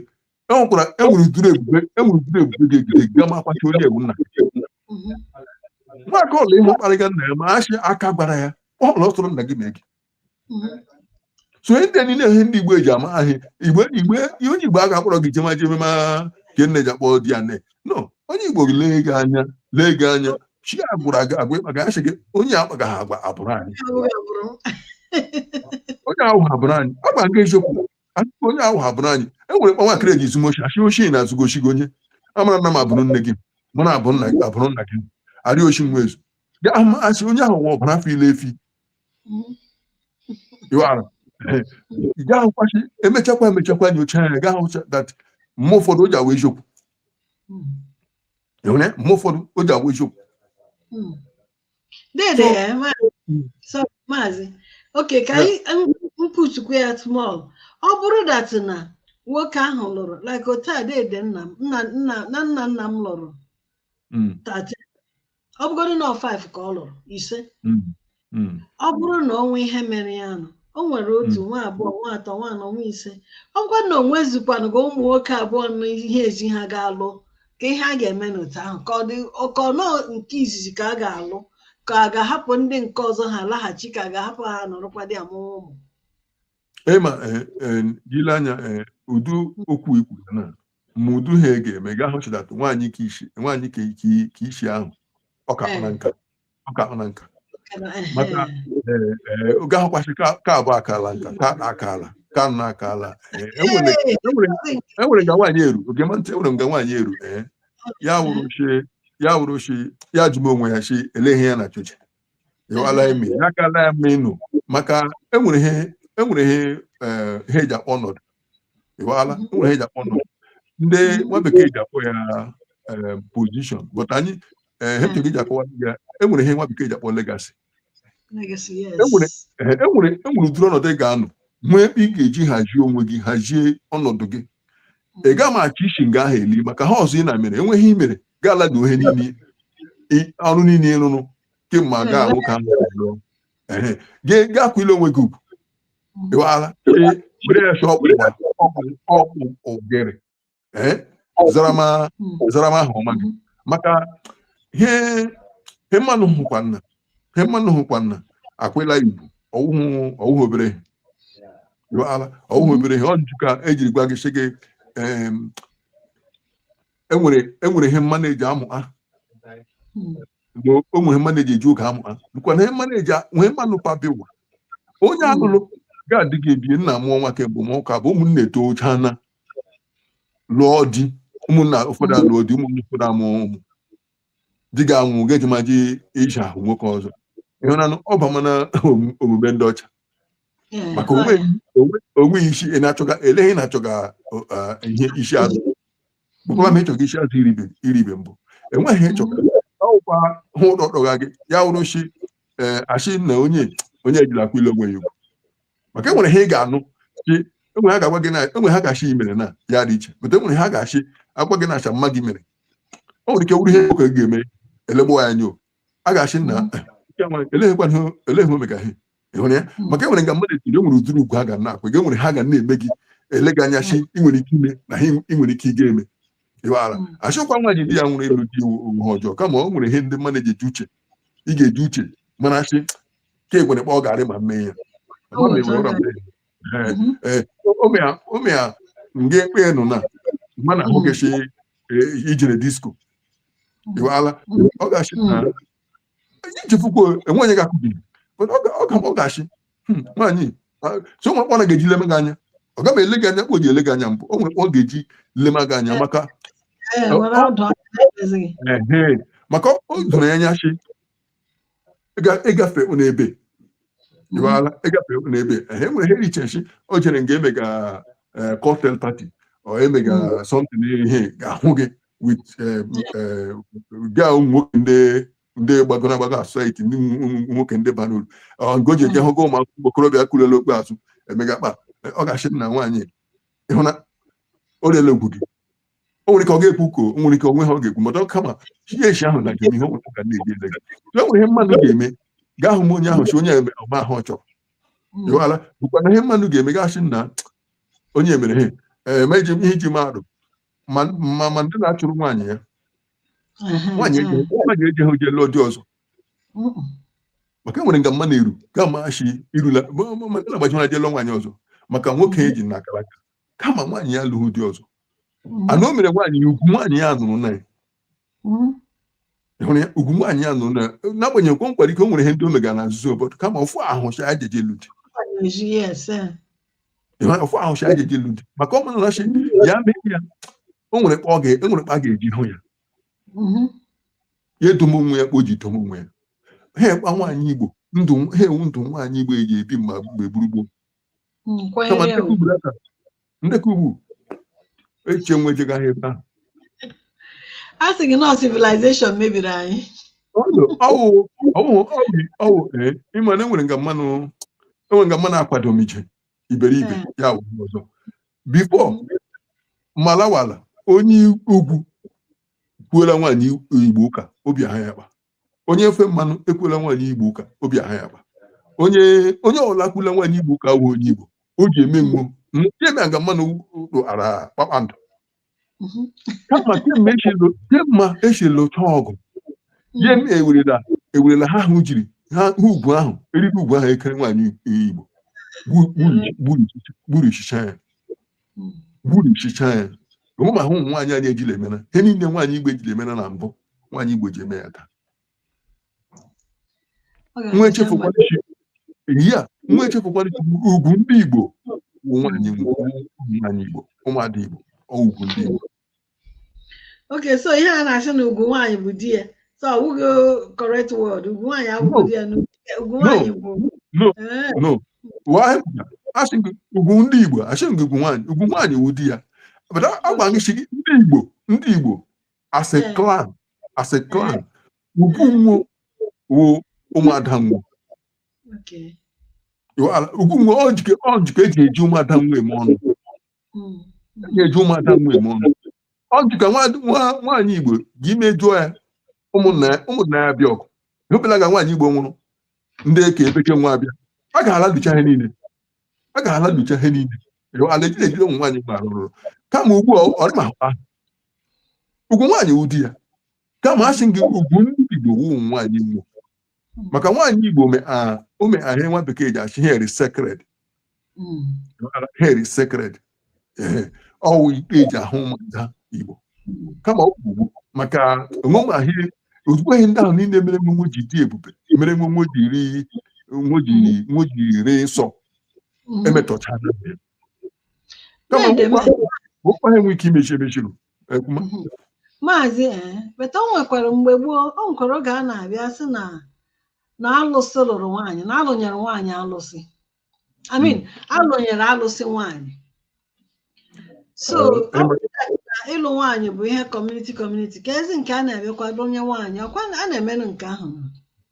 e nwekwara e nwere udiri ebube e nwere udiri ebube ga-ejide gị gị amakwa si onye a wụ nna nwata ọwụla ị hụ kparịga nna ya ma si aka gbara ya họọlụ ọsọrọ nna gị mee gị so ndị niile ihe ndị igbo eji ama ahị igbo igbo ihe onye igbo a ga-akpọrọ gị jema jeme ma ka nne ji akpọ di ya nne no onye igbo gị lee gị anya lee gị anya si a gwụra gị agwa ịkpa gị asị gị onye a kpagaghị agwa agbụrụ anyị onye ahụ agbụrụ anyị ịgwa gị eziokwu asị gị onye ahụ agbụrụ anyị e nwere kpa nwaakịrị eji zuma oshi asị oshi a na-ezuga oshi gị onye amara nna m agbụrụ nne gị mụ na abụ nna gị agbụrụ nna gị arị oshi nwa ezu gị ahụ asị onye ahụ nwa ọbara afọ ile efi gaa hụkwa si emechakwa emechakwa nyocha ya gaa hụcha that mgbe ụfọdụ o ji awụ eziokwu mgbe ụfọdụ o ji awụ eziokwu dede eh, so maazị oke ka anyị pushkwuo ya small ọ bụrụ that na nwoke ahụ lụrụ like otu a dede nna m nna nna nna nna m lụrụ hmm. ọ bụgodị na ọ 5 ka ọ lụrụ ise Mm. Mm. ọ bụrụ na o nwee ihe mere ya nụ o nwere otu nwa abụọ nwa atọ nwa anọ nwa ise ọ bụkwa na o nwezikwanụ ka ụmụ nwoke abụọ na ihe ezi ha ga-alụ ka ihe a ga-eme n'otu ahụ ka ọ dị ka ọ nọ nke izizi ka a ga-alụ ka a ga-ahapụ ndị nke ọzọ ha alaghachi ka a ga-ahapụ ha nọrọkwa dị amụwa ụmụ ịma eh, eh, ile anya eh, ụdị okwu ikwu ya na ma ụdị he a ga-eme nga ahụ chidata nwaanyị ka ishi nwaanyị ka ike- ka ishi ahụ ọ kaahụna nka ọ kaahụna nka maka ee, ee, oge ahụ kwasị ka ka abụ akaala nka ka na akala ka na akala ee, enwere enwere enwere nga nwaanyị eru oge ma ntị enwere nga nwaanyị eru ee ya wụrụ shị ya wụrụ shị ya jụma onwe ya shị ele ihe ya na-achọche Iwuala emi ya gala ya mma ịnụ maka enwere ihe enwere ihe eh, ihe eji akpọ ọnọdụ Iwuala enwere ihe eji akpọ ọnọdụ ndị nwa bekee ji akpọ ya eh, position but anyị eh, ihe m chọrọ iji akọwa ya enwere ihe nwa bekee ji akpọ legacy Legacy, yes. enwere Ee, enwere enwere ụdịrị ọnọdụ ị ga-anọ nwee ebe ị ga-eji hazie onwe gị hazie ọnọdụ gị ị gaghị m achọ isi nga ahụ eli maka he ọzọ ị na mere enweghị i mere gaala gị ihe niile i- ọrụ niile ị rụrụ kemgbe aga ahụ ka m rụrụ gaa kwụile onwe gị ugwu Iwuala were ya chọọ ọkpụkpa ọkpụ ogere ee zarama zarama ahụ ọma gị maka he he mmanụ hụkwana he mmanụ hụkwana akwela Igbo ọ wụhụ ọ wụhụ obere ihe Iwuala, ọ wụhụ obere ihe ọ njụ ka ejiri gwa gị sị gị em, enwere enwere ihe mmanụ eji amụ ha mgbe o nwere mmanụ eji eji oge amụ ha bụkwa na ihe mmanụ eji nwee mmanụ pabiwa onye a lụrụ gaa di gị ebiena mụọ nwa kemgbe ma ụka bụ ụmụnna etoochana lụọ di ụmụnna ụfọdụ alụọ di ụmụnna ụfọdụ amụọ ụmụ di gị anwụọ ga-ejimaji iji ahụ nwoke ọzọ ị hụnanụ ọ bamana omume ndị ọcha maka o nwe isi ị na-achọga ele he ị na-achọga ihe isi azụ bụkwa ma ị chọga isi azụ i ribe mbụ enweghị ịchọga ọkwa hụ ụdọdọga gị ya wụrụ shị a shị na onye onye ejilakwa ile onwe ya ugwu maka enwere ha ị ga-anụ shị enwere he a ga-agwa gị na enwere he a ga-ashị i mere na ya dị iche bụta enwere he a ga-ashị agwa gị na acha mma gị mere o nwere ike wụrụ ihe oke ga-eme elegbo ya nyo a ga-ashị na eleghekwa ihe eleghị ome ka ihe ị hụrụ ya maka enwere nga mmadụ etiri enwere ụdịrị ugwu ha ga na-akwa gị enwere ha ga na-eme gị ele gị anya shị ị nwere ike ime na ha ị nwere ike ịga eme ịwaghara a shịkwa nwaanyị di ya nwụrụ ịlụ di wụ he ọjọọ kama ọ nwere ihe ndị mmadụ ji eji uche ị ga-eji uche mana a shị ka e nwere kpa ọ garị ma mee ya omea nga ekpe nụ na mana a hụ gị shi i jere disco iwala ọ gashi na iji fukwo e nwee onye ga-akụbi ọ gashi nwaanyị so o nwere kpa ọ ga-eji lema gị anya ọ gaghị ele gị anya kpa o ji ele gị anya mbụ o nwere kpa ọ ga-eji lema gị anya maka maka o doro ya anya shi ịgafe ụnụ ebe jụwala ịgafe ụnụ ebe ha enwere ihe richechi o jere nga e mega cocktail party or e mega something a ga-ahụ gị with ga ụmụ nwoke ndị ndị gbagoro agbago na society ndị nwoke ndị bara uru nga o ji eje hụ ga ụmụ akwụkwọ okorobịa kulele okpe azụ emega kpa ọ ga-ashị na nwaanyị ahụ na o rele ugwu gị o nwere ike ọ ga-ekwu ka o nwere ike onwe ha ọ ga-ekwu mata kama ihe echi ahụ na njem ihe ọgwụgwụ ka na-eji ele gị e nwere ihe mmadụ ga-eme a ga-ahụ onye ahụ si onye a mere ọma ahụ ọ chọrọ jụwala bụkwa na ihe mmadụ ga-eme a ga-asị na onye mere he eme iji ihe iji mmadụ ma ma ma ndị na-achụrụ nwaanyị ya nwaanyị eji nwaanyị eji ha o je lụọ di ọzọ maka e nwere nga mma na-eru ga amachi irula ma- ma- ma ndị na-agbaji ha je lụọ nwaanyị ọzọ maka nwoke eji na akara aka kama nwaanyị ya lụrụ di ọzọ mm-hmm. and o mere nwaanyị ya ugwu nwaanyị ya nụrụ na ya mm-hmm. hụrụ ya ugwu nwaanyị ya nụrụ na ya n'agbanyeghị kwa nkwara ike o nwere ihe ndị o megara na nzuzo obodo kama ofu ahụ cha ya jeje lụ di ofu ahụ cha ya jeje lụ di maka ọ mụnarachi ya mee ya o nwere kpa a ga-eji hụ ya mm-hmm. ya edomo onwe ya kpa o ji domo onwe ya ahụ kpa nwaanyị igbo ndụ ahụ wụ ndụ nwaanyị igbo eji ebi mgbe gboo gboo ndị ka ugbu echiche nwejegaghị ebe ahụ a sị gị na ọ civilization mebiri anyị ị ma na e nwere nga mmanụ e nwere nga mmanụ akwado m ije iberibe eh. ya ọzọ before malawala onye ugwu kwuola nwaanyị igbo ụka obi aha ya kpa onye ofe mmanụ ekwula nwaanyị igbo ụka obi aha ya kpa onye onye ọla kwula nwaanyị igbo ụka wụ onye igbo o ji eme nwo emega mmanụ ụlọ ara kpakpando Mhm. kama kemgbe e shi lụ kemgbe e shi lụchaa ọgụ ya eme ewerela ewerela ihe ahụ jiri ha ha ugwu ahụ eriri ugwu ahụ e kere nwaanyị igbo gbu- gburu- gburu- gburishichaa ya gburishichaa ya omume ahụ nwaanyị anyị ejila emena ihe niile nwaanyị igbo ejila emena na mbụ nwaanyị igbo ji eme ya taa nwa echefukwara ya nwa echefukwara shi ugwu ndị igbo wụ nwaanyị nwaanyị igbo ụmụada igbo ugwu ndị igbo okay so ihe a na-asị na ugwu nwaanyị bụ di ya so ọ bụghị correct word ugwu nwaanyị abụghị di ya na ugwu nwaanyị bụ no Ee, no Why? asị gị ugwu ndị igbo asị gị ugwu nwaanyị ugwu nwaanyị wụ di ya but a- agwa gị sị gị ndị igbo ndị igbo as a Eh. clan as a clan ugwu nwo wụ ụmụada nwo okay. Ịghọala ugwu nwo ọ njike ọ njike eji eji ụmụada nwo eme ọnụ na-eji ụmụada nwo eme ọnụ ọ dị ka nwa- nwa- nwaanyị igbo gị mejọọ ya ụmụnna ya ụmụnna ya bịa ọgụ ị hụbela nga nwaanyị igbo nwụrụ ndị ke ebe ke nwo abịa a ga-alarucha ihe niile a ga-alarucha ihe niile ala ejiri ejiri ụmụ nwaanyị mgbe arụrụ kama ugbu a ọ dị ma ha ugwu nwaanyị wụ di ya kama a sị gị ugwu ndị igbo wụ ụmụ nwaanyị igbo maka nwaanyị igbo ome a ome ihe a nwa bekee ji asị very sacred Mm. very sacred ọ wụ kpa eji ahụ ụmụada igbo kama ọ bụ maka onwe ahịa ozugbo ihe ndị ahụ niile mere nwo nwo ji dị ebube mere nwo nwo ji rị nwo ji nwo ji rị nsọ Mm. emetọchara kama Nede m- okwa ha enwe ike imezi emechiru Ekwuma. Mhm. maazị ee but o nwekwara mgbe gboo o nwekwara oge a na-abịa sị na na alụsị lụrụ nwaanyị na alụnyere nwaanyị alụsị I mean alụnyere alụsị nwaanyị so Eh, ọ bụrụ na ịlụ nwaanyị bụ ihe kọmuniti kọmuniti ka ezi nke a na-emekwa lụnye nwaanyị ọkwa na a na-emenụ nke ahụ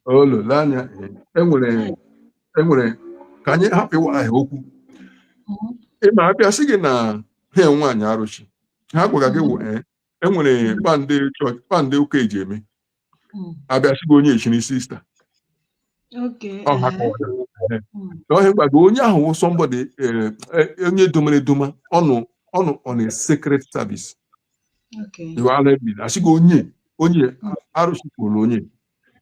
olole anya enwere enwere ka anyị hapụ ịwa ahịa okwu Mhm. ịma abịa sị gị na ha enwe nwaanyị arụsị ihe a gwara gị wụ ee enwere kpa ndị chọọchị kpa ndị ụka eji eme Mm. a bịa sị gị onye echiri sista Okay. ọ ha eh, kọwara Ee. mm, na ọ ihe a gwa gị onye ahụ wụ sọmbọdị onye domere edoma ọ nọ ọ nọ na sacred service Okay. ịghọala a bịa sị gị onye onye arụsị kwuru onye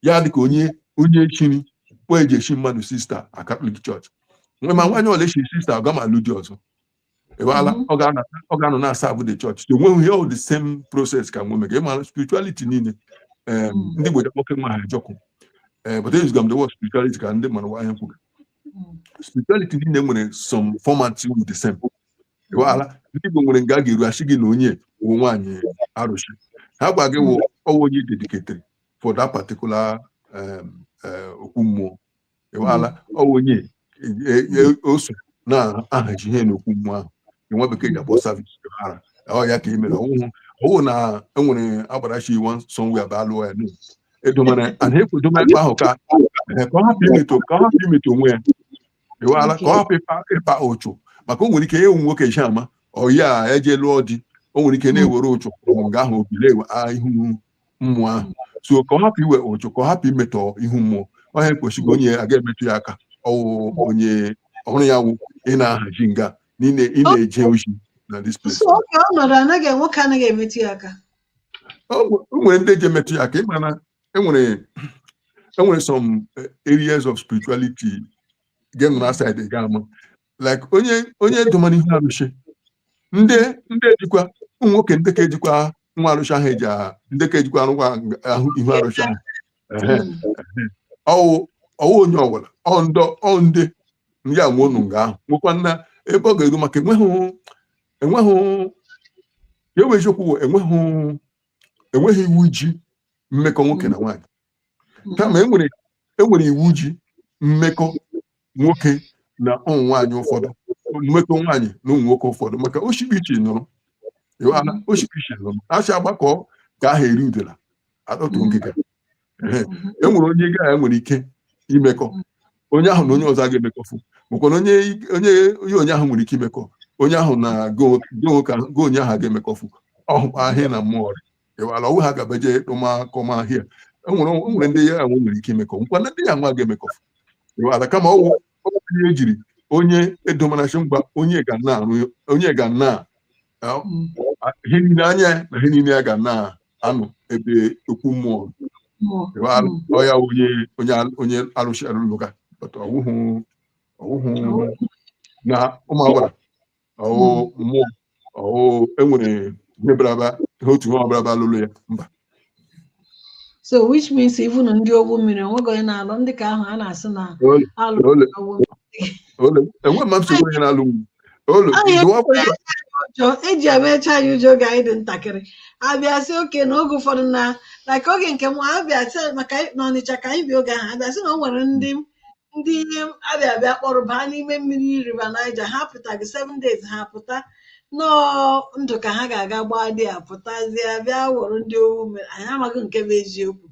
ya dị ka onye onye echiri kpa eji echi mmadụ sista na Catholic church ma nwaanyị ọwụla echi sista ọ gama alụ di ọzọ ịghọala mhm. ọ ga-anọ na-aserve the church so onweghị ihe the same process ka nwo mega ịmara spirituality niile mhm. ndị gbede nwoke nwa ha ajọkụ eh, but ezuga m the word spirituality ka ndị mara ihe a kwuru mhm. spirituality niile nwere some format with the same ịghọala ndị Igbo nwere nga a ga-eru asị gị na onye wụ nwaanyị arụsị ihe a gwa gị wụ ọ wụ onye dedicated for that particular eh, okwu mmụọ ịwaala ọ bụ onye e- e- o so na-ahaji ihe n'okwu mmụọ ahụ nwa bekee ji akpọ server ọ ya ka i mere ọwụhụ ọwụ na enwere agbara shị iwu sọnwe aba alụọ ya nụ edomere ana ekwedoma ebe ahụ ka eh, ka ọ hapụ imetọ ka ọ hapụ imetọ onwe ya ịwaala ka ọ hapụ ịkpa ịkpa ụchụ maka o nwere ike ịwụ nwoke eji ama ọyi a eje lụọ di o nwere ike na-ewere ụchụ ọmụ ga ahụ ọ bịa na-ewe ya ihu mmụọ ahụ so ka ọ hapụ iwe ụjụ ka ọ hapụ imetọ ihu mmụọ onye kwesịrị onye a ga-emetụ ya aka ọwụ onye ọrụ ya wụ ị na-ahaji nga na ị na-eje ozi na this place so oge ọ nọrọ anaghị nwoke anaghị emetụ ya aka enwere ndị ji emetụ ya aka ị ma na enwere enwere some areas of spirituality ga-enọ na side ga-ama like onye onye domana ihu arụsị ndị ndị ejikwa ụmụ nwoke ndị ka ejikwa nwa arụsị ahụ eji aha ndị ka ejikwa nwa ahụ ihu arụsị ahụ Ehe, ehe. ọwụ ọwụ onye ọbụla ọ ndọ ọ ndị ya nwe ọnụ nga ahụ nwekwanụ ebe ọ ga-eru maka enweghị enweghị ya bụ eziokwu bụ enweghị enweghị iwu ji mmekọ nwoke na nwaanyị kama enwere enwere iwu ji mmekọ nwoke na ụmụ nwaanyị ụfọdụ mmekọ nwaanyị na ụmụ nwoke ụfọdụ maka oshibichi nụrụ ịghọtala? oshibichi nụrụ a sị agbakọọ ka aha eri udela atọtuo ngịga Ehe. e nwere onye gị na ya nwere ike imekọ onye ahụ na onye ọzọ a ga-emekọfu makwa na onye onye onye onye ahụ nwere ike imekọ onye ahụ na go go ka go onye ahụ a ga-emekọfu ọhụkwa ahịa na mmụọ ọrịa ịwala ọwụ ha gabeje ịkpọmakọma ahịa enwere enwere ndị ya nwa nwere ike imekọ nkwa na ndị ya nwa ga-emekọ ịwala kama ọwụ onye ejiri onye edomana shị ngwa onye ga na-arụ onye ga na ihe niile anya na ihe niile ya ga na-anọ ebe okwu mmụọ ịwala ọya onye onye onye arụsị lụlụ ga ọwụhụ ọwụhụ na ụmụ agbara ọwụ mmụọ ọwụ enwere ihe agbara bịa ihe otu ihe agbara bịa lụrụ ya mba so which means even ndị ogbu mmiri onweghị onye na-alụ ndị ka ahụ a na-asị na Ole- alụ ole- ogbu mmiri. ole enwe mma nsogbu onye na-alụ m ole Ọ ya dụwa akụkọ ụjọ eji emecha anyị ụjọ oge anyị dị ntakịrị abịa sị okay na oge ụfọdụ na like oge nke m abịa sị maka anyị- n'Ọnịcha ka anyị bi oge ahụ abịa sị na o nwere ndị ndị a bịa a bịa kpọrọ baa n'ime mmiri River Niger ha pụtaghị seven days ha pụta nọọ ndụ ka ha ga-aga gbaa dị a pụtazie bịa wụrụ ndị owu mmiri anyị amaghị nke bụ eziokwu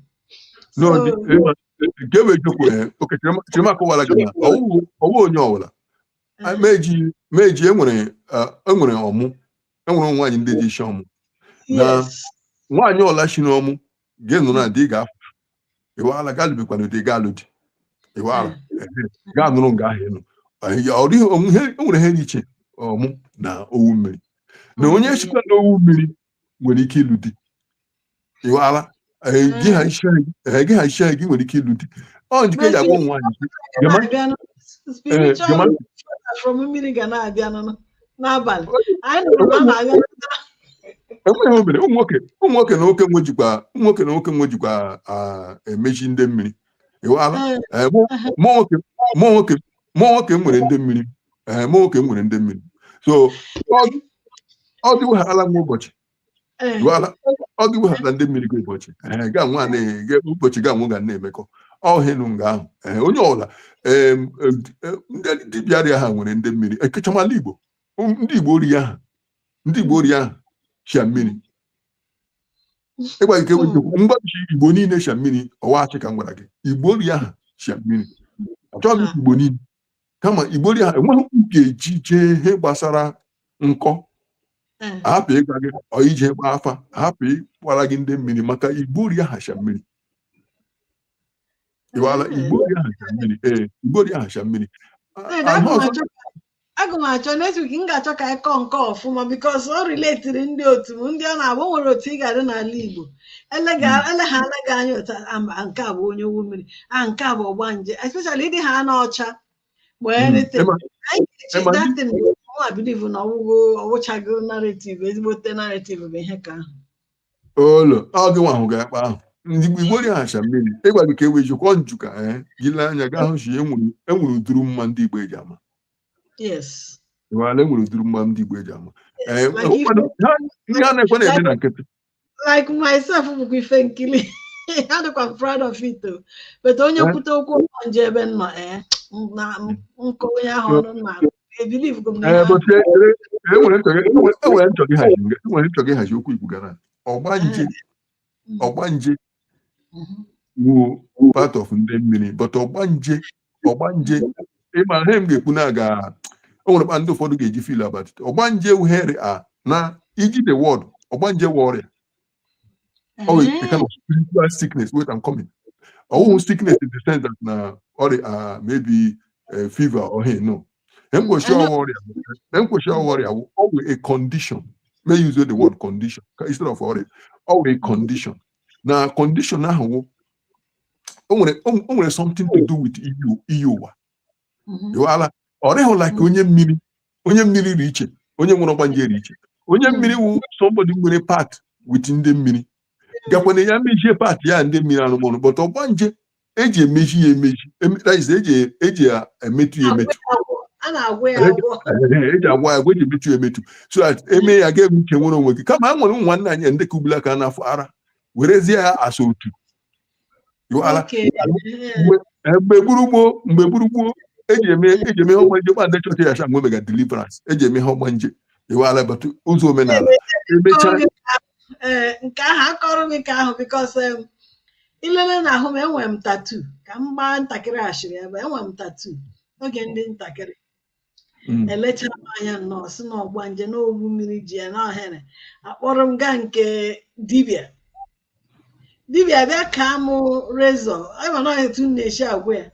No, So- the- eh, nke bụ eziokwu eh, okay Chirima- Chirima kọwara gị na ọwụhụ ọwụ onye ọbụla Ah, meji meji enwere ah, enwere ọmụ enwere ụmụ nwaanyị ndị dị isi ọmụ na yes. nwaanyị ọbụla si n'ọmụ gị anọrọ na di ga-afụ ịwala gị alụbekwana di gị alụ di ịwala gị anọrọ nga ahụ ịnụ ọ dịghị o nwere ihe dị iche ọmụ na owu mmiri na onye shikwa na owu mmiri nwere ike ịlụ di ịwala gị ha iche gị nwere ike ịlụ di ọ njike ya gwa nwaanyị n'abalị anyị nụrụ na a na-agha enweghị obere ụmụ nwoke ụmụ nwoke na nwoke nwejikwa ụmụ nwoke na nwoke nwejikwa ah, emezi ndị mmiri ịwala Ee, Eh, mụ mụ nwoke mụ nwoke mụ nwoke m nwere ndị mmiri Eh, mụ nwoke m nwere ndị mmiri so ọ- ọ dịweghala m ụbọchị Eh, ịwala, ọ gị weghara ndị mmiri gị ụbọchị Ee, ga nwa na- ga- ụbọchị ga nwa ga na-emekọ ọhịnụ nga ahụ Ee, onye ọbụla em, em, em, ndị dibịa rị aha nwere ndị mmiri ekechamala igbo Um, ndị igbo rị aha ndị igbo rị aha shia mmiri ịgwa gị ka ewe eziokwu, m gwa gị igbo niile shia mmiri ọ wụ ashị ka m gwara gị igbo rị aha shia mmiri achọghị m ikwu igbo niile kama igbo rị aha enweghị m ga-eji jee ihe gbasara nkọ hmm. hapụ ịga gị ije gba afa hapụ ịgwara gị ndị mmiri maka igbo rị aha shia mmiri ịwala hmm. igbo rị aha shia mmiri ee igbo rị aha shia mmiri aga m achọ next week m ga-achọ ka anyị kọọ nke ọfụma because ọ riletiri ndị otu m ndị ọ na-abụ nwere otu ị ga-adị n'ala Igbo eleghara gị anya otu nke a bụ onye owu mmiri a nke a bụ ọgbanje especially ị dịhana ọcha ma anything anyị ga-eche that thing nwa bilivu na ọwụgo ọwụchago narrative ezigbote narrative bụ ihe ka ahụ olo ọ gị nwa ahụ ga-akpa ahụ ndị igbo rị aha shia mmiri ịgwa gị ka ewe jikwa nju ka ee gị lee anya gaa hụ sị e nwere ụdịrị mma ndị igbo eji ama yes ịwala e nwere ụdịrị mma ndị igbo eji ama ee ndị a na-ekwe na-eme na nkịtị like myself bụkwa ife nkiri adịkwa m proud of it o. but onye Eh? kwute okwu ọgbanje ebe m nọ eh, m- na m- m kọọ onye ahụ ọnụ m na-agụ ebilivghị m na ihe Ee, ahụ bụtụ ekele, e nwere m chọga e nwere- e nwere m chọga ịhazi e nwere m chọga ịhazi okwu i kwu gbara ọgbanje Mm, mm. ọgbanje wụ part of ndị mmiri but ọgbanje ọgbanje ị ma ihe m ga-ekwu na aga o nwere kpa ndị ụfọdụ ga-eji feel about it ọgbanje wụ heri a na iji the word ọgbanje wụ ọrịa ọ wụ a kind of spiritual sickness wait I'm coming ọ wụhụ sickness in the sense that na ọrịa ah, maybe eh, fever or hey no M kwu sị ọ wụ ọrịa m kwu sị ọ wụ ọrịa wụ ọ wụ a condition may use the word condition ka- instead of ọrịa ọ wụ a condition na condition ahụ wụ o nwere o o nwere something to do with iyi iyi ụwa Mhm. ịwala ọ rịhụ like onye mmiri onye mmiri dị iche onye nwere ọgbanje dị iche onye mmiri wụ somebody nwere pact with ndị mmiri gakwana ya mejie part ya ndị mmiri arụmọrụ but ọgbanje eji emeji ya emeji emetajize eji eji ya emetụ ya emetụ a na-agwọ ya Ehe. agwọ Ehe, eji agwa ya agwa eji emetụ ya emetụ so that eme ya ga emuche nwere onwe gị kama a nwere ụmụ nwanne anyị ndị ka ugbula ka n'afọ ara werezie ya asa otu mgbe gburugburu mgbe gburugburu eji eme eji eme ihe ọgbanje gba ndị chọọchị ya mgbe mega deliverance eji eme ihe ọgbanje ịwa ala but ụzọ omenala emechaa nke ahụ akọrọ gị ka ahụ because i lele na ahụ m enwe m tattoo ka m gbaa ntakịrị ashịrị ebe enwe m tattoo oge ndị ntakịrị Mm. emechara m anya nnọọ sị na ọgbanje na owu mmiri ji ya na ohere akpọrọ m gaa nke dibịa dibịa bịa kaa m razor ị ma na etu m na-esi agwa ya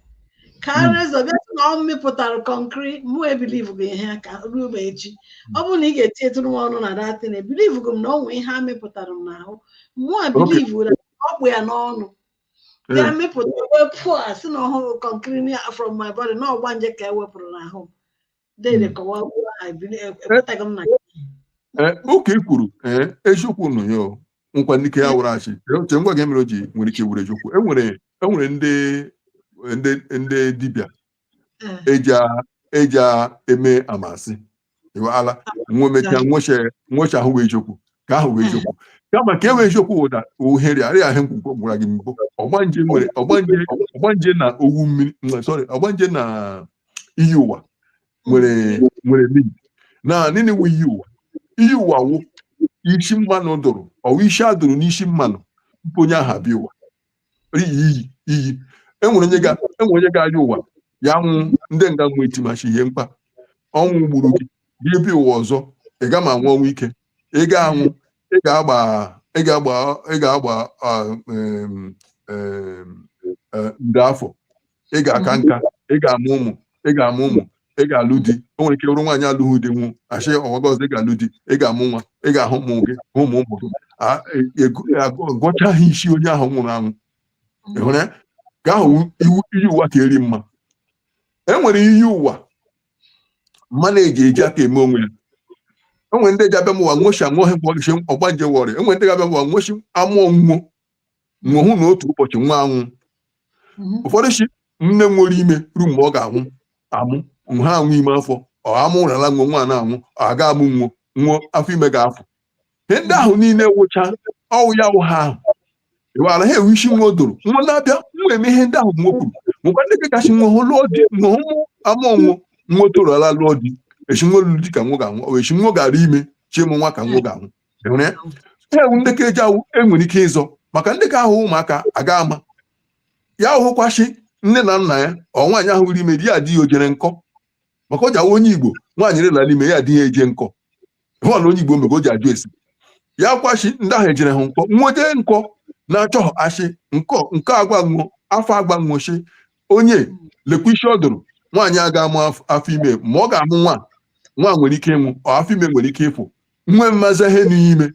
kaa Mm. razor bịa sị na ọ mịpụtara kọnkịrị mụ ebelieveghị ihe a ka ruo ma echi ọ bụrụ na ị ga-etinyetụrụ m ọnụ na that thing ebelieveghị m na o nwe ihe a mịpụtara m n'ahụ mụ ebelieve na ọ kpụ ya n'ọnụ bịa eh. mịpụta wepụ a sị na ọ hụrụ kọnkiri from my body na ọgbanje ka e wepụrụ n'ahụ dede hmm. kọwa ekwetaghị m na oke eh, kwuru eh, eziokwu nụ ya nkwa ndị ya wụrụ achị oche ngwa gị mere o ji nwere ike wụrụ eziokwu enwere e ndị ndị dibịa eji eme a ma sị ịwa ala nwe mechaa nwecha ahụ wụ eziokwu ka ahụ wụ eziokwu kama ke wụ eziokwu ụda ohere arịa ahụ mgbe m gwara gị mbụ ọgbanje nwere ọgbanje na owu mmiri sorry ọgbanje na iyi ụwa nwere nwere link na nini wụ iyi ụwa iyi ụwa wụ isi mmanụ dụrụ ọ wụ isi a dụrụ n'isi mmanụ tupu onye ahụ abịa ụwa iyi iyi iyi enwere onye ga- enwere onye ga-aya ụwa ya nwụ ndị nga nwụ etima sị ihe mkpa ọnwụ gburu gị gị bịa ụwa ọzọ ị ga ma anwụ ọnwụ ike ị ga-anwụ ị ga-agba ị ga-agba ị ga-agba ah, em, em, eh, nde afọ ị ga-aka nka ị ga-amụ ụmụ ị ga-amụ ụmụ ị ga-alụ di o nwere ike bụrụ nwaanyị alụghị di nwụọ a sị ụwa gị ọzọ ị ga-alụ di ị ga-amụ nwa ị ga-ahụ ụmụ gị hụ ụmụ ụmụ gị A- e- e- agụ- gụchaa ha isi onye ahụ nwụrụ anwụ ị hụrụ ya ka ahụ wụ iyi ụwa ka eri mma e nwere iyi ụwa mmanụ ji eji aka eme onwe ya enwere ndị ji abịama ụwa nwo sị anwụghị mgbe ọgịchi ọgbanje wọrị enwere ndị ga-abịama ụwa nwo sị a mụọ nwo nwo hụ na otu ụbọchị nwa anwụ mhm. ụfọdụ sị nne nwere ime ruo mgbe ọ ga-anwụ amụ ha anwụ ime afọ ọ amụ ụrala nwe nwa na-anwụ ọ aga amụ nwo nwo afọ ime ga-afụ ihe ndị ahụ niile wụcha ọ wụ ya wụ ha ahụ ịwara ha ewu isi nwo dụrụ nwa na-abịa nwa eme ihe ndị ahụ nwa kwuru nwekwa ndị kachasị nwa hụ lụọ di nwa hụ amụ nwo nwa toro ala lụọ di esi nwa lụọ di ka nwa ga-anwụ a sị nwa gara ime chimụ nwa ka nwa ga-anwụ ewu ndị ka eji awụ e nwere ike ịzọ maka ndị ka ahụ ụmụaka aga ama ya hụkwachi nne na nna ya ọ nwaanyị rị ime di ya di ya ojere nkọ maka ọ ji awụ onye igbo nwaanyị rịla ime ya di ya eje nkọ hụọla onye igbo mgbe o ji ajụ esi ya kwachi ndị ahụ ejere ha nkọ nwe eje nkọ na-achọ achị nkọ nke agwa nwụọ afọ agwa nwụchi onye lekwa isi ọ dụrụ nwaanyị aga amụ afọ ime ma ọ ga-amụ nwa nwa nwere ike ịnwụ afọ ime nwere ike ịfụ nwe mmaza ihe n'ime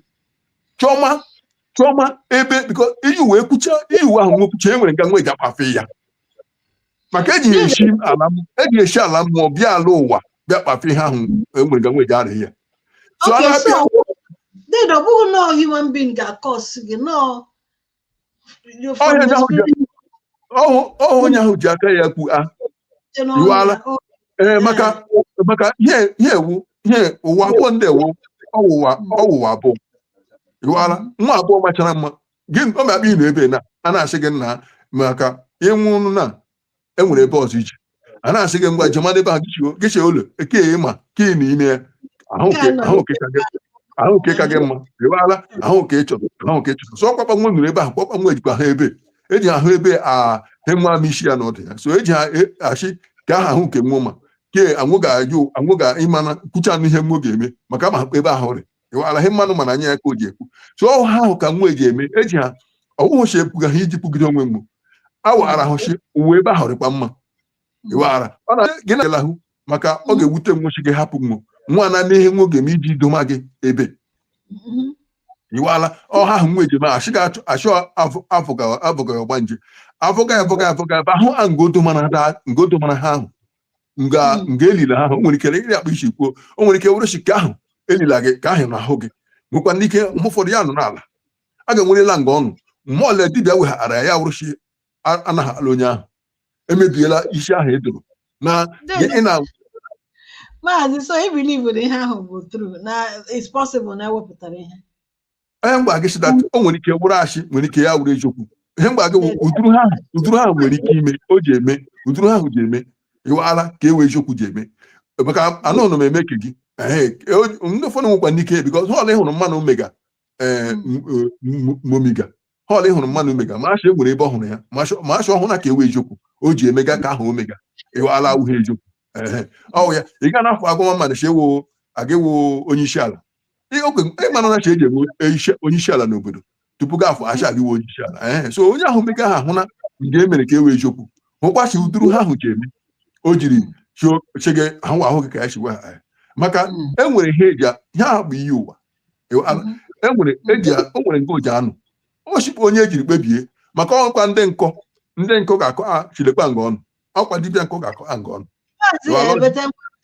chọma chọma ebe biko iyi ụwa kwucha iyi ụwa ahụ nwe kwucha e nwere nga nwe ga kpafe ya maka eji ya esi ala m- eji ya esi ala mmụọ bịa ala ụwa bịa kpafe ihe ahụ e nwere nga nwe ga arị ya so a Okay, na-abịa so then ọ bụghị nọọ human being ga-akọs gị nọọ ọhụ onye ahụ ji aka ya kwuo ịwala ee maka maka ihe wụ ihe ụwa abụọ ndị ewu ọ wụ ụwa ọ wụ ụwa abụọ ịwala ụwa abụọ machara mma gị ọ ma-akpa ị n'ebe na a na-asị gị nna maka ịnwụ na e nwere ebe ọzọ iche a na-asị gị ngwa jemanụ ebe ahụ gịchie ụlọ eke ịma ka ị na ime ya ahụ nke ka gị mma i weghara ahụ nke ịchọrọ ahụ nke ịchọrọ so ọkpakpa nwe nọrọ ebe ahụ kpakpa nwe jikwa ha ebe eji ahụ ebe a enwe ama isi ya na ọdụ ya so eji ha achị ka aha ahụ nke nwe ma ke anwụ ga-ajụ anwụ ga ịmana kwuchanụ ihe nwe ga-eme maka ma ebe ahụ rị alaghị mmanụ mana anya ya ka o ji ekwu so ọ ha ahụ ka nwe eji eme eji ha ọwụhụchi epuga ha iji pụgide onwe mgbu awara ahụchi uwe ebe ahụ rịkwa mma i weghara ọ na gị na ahụ maka ọ ga-ewute nwochi gị hapụ nwo nwa na n'ihe nwo ga-eme iji idoma gị ebe ịwala ọ ha ahụ nwe ejima achị ga-achụ achụ afụga afụga ọgbanje afụga afụga afụga ebe ahụ a ngodo mana ha ahụ nga hmm. nga elila ahụ o nwere ike ịrị akpa i si kwuo o nwere ike wụrụchi ka ahụ elila gị ka ahụ n'ahụ gị nwekwanị ike mgbe ụfọdụ ya nọ n'ala a ga-enwerela nga ọnụ mgbe ọla dibịa weghara ya ya wụrụchi anaghala onye ahụ emebiela isi ahụ e doro na ị na maazị so i believe na ihe ahụ bụ true na it's possible na ewepụtara ihe ihe m gwa gị sịda o nwere ike wụrụ ashị nwere ike ya wụrụ eziokwu ihe m gwa gị ụdụrụ ha ụdụrụ ha nwere ike ime o ji eme ụdụrụ ahụ ji eme ịwala ka e wụ eziokwu ji eme maka anụ ụlọ m eme ke gị ndị ụfọdụ nwekwanị ike bikọ họl ịhụrụ mmanụ o mega eh, momiga họl ịhụrụ mmanụ o mega ma a sị e nwere ebe ọ hụrụ ya ma a sị ọ hụrụ na ka e wụ eziokwu o ji emega ka ahụ o mega ịwala awụghị eziokwu ọ wụ ya ị ga na-afụ agụma mmadụ si ewo aga ewo onye isi ala Ihe o kwere- ị mara na a sị eji eme onyeisi- onyeisiala n'obodo tupu gị afọ acha gị wee onyeisiala ee so onye ahụ mega ahụ hụna nke e mere ka e wee eziokwu hụkwa si uduru ha ahụ ji eme o jiri chio- sị gị ahụ ahụ gị ka ya si gwa ha ee. maka Mm. e nwere ihe eji a- ihe ahụ bụ iyi ụwa Ewe- a- Mhm. e nwere eji a- o nwere nke oji anụ ọ sikwa onye ejiri kpebie maka ọkwa ndị nkọ ndị nkọ ga-akọ a chilekwa nga ọnụ ọkwa dibịa nke ọ ga-akọ ha nke ọnụ Maazị Lụọ ọrụ. Ebete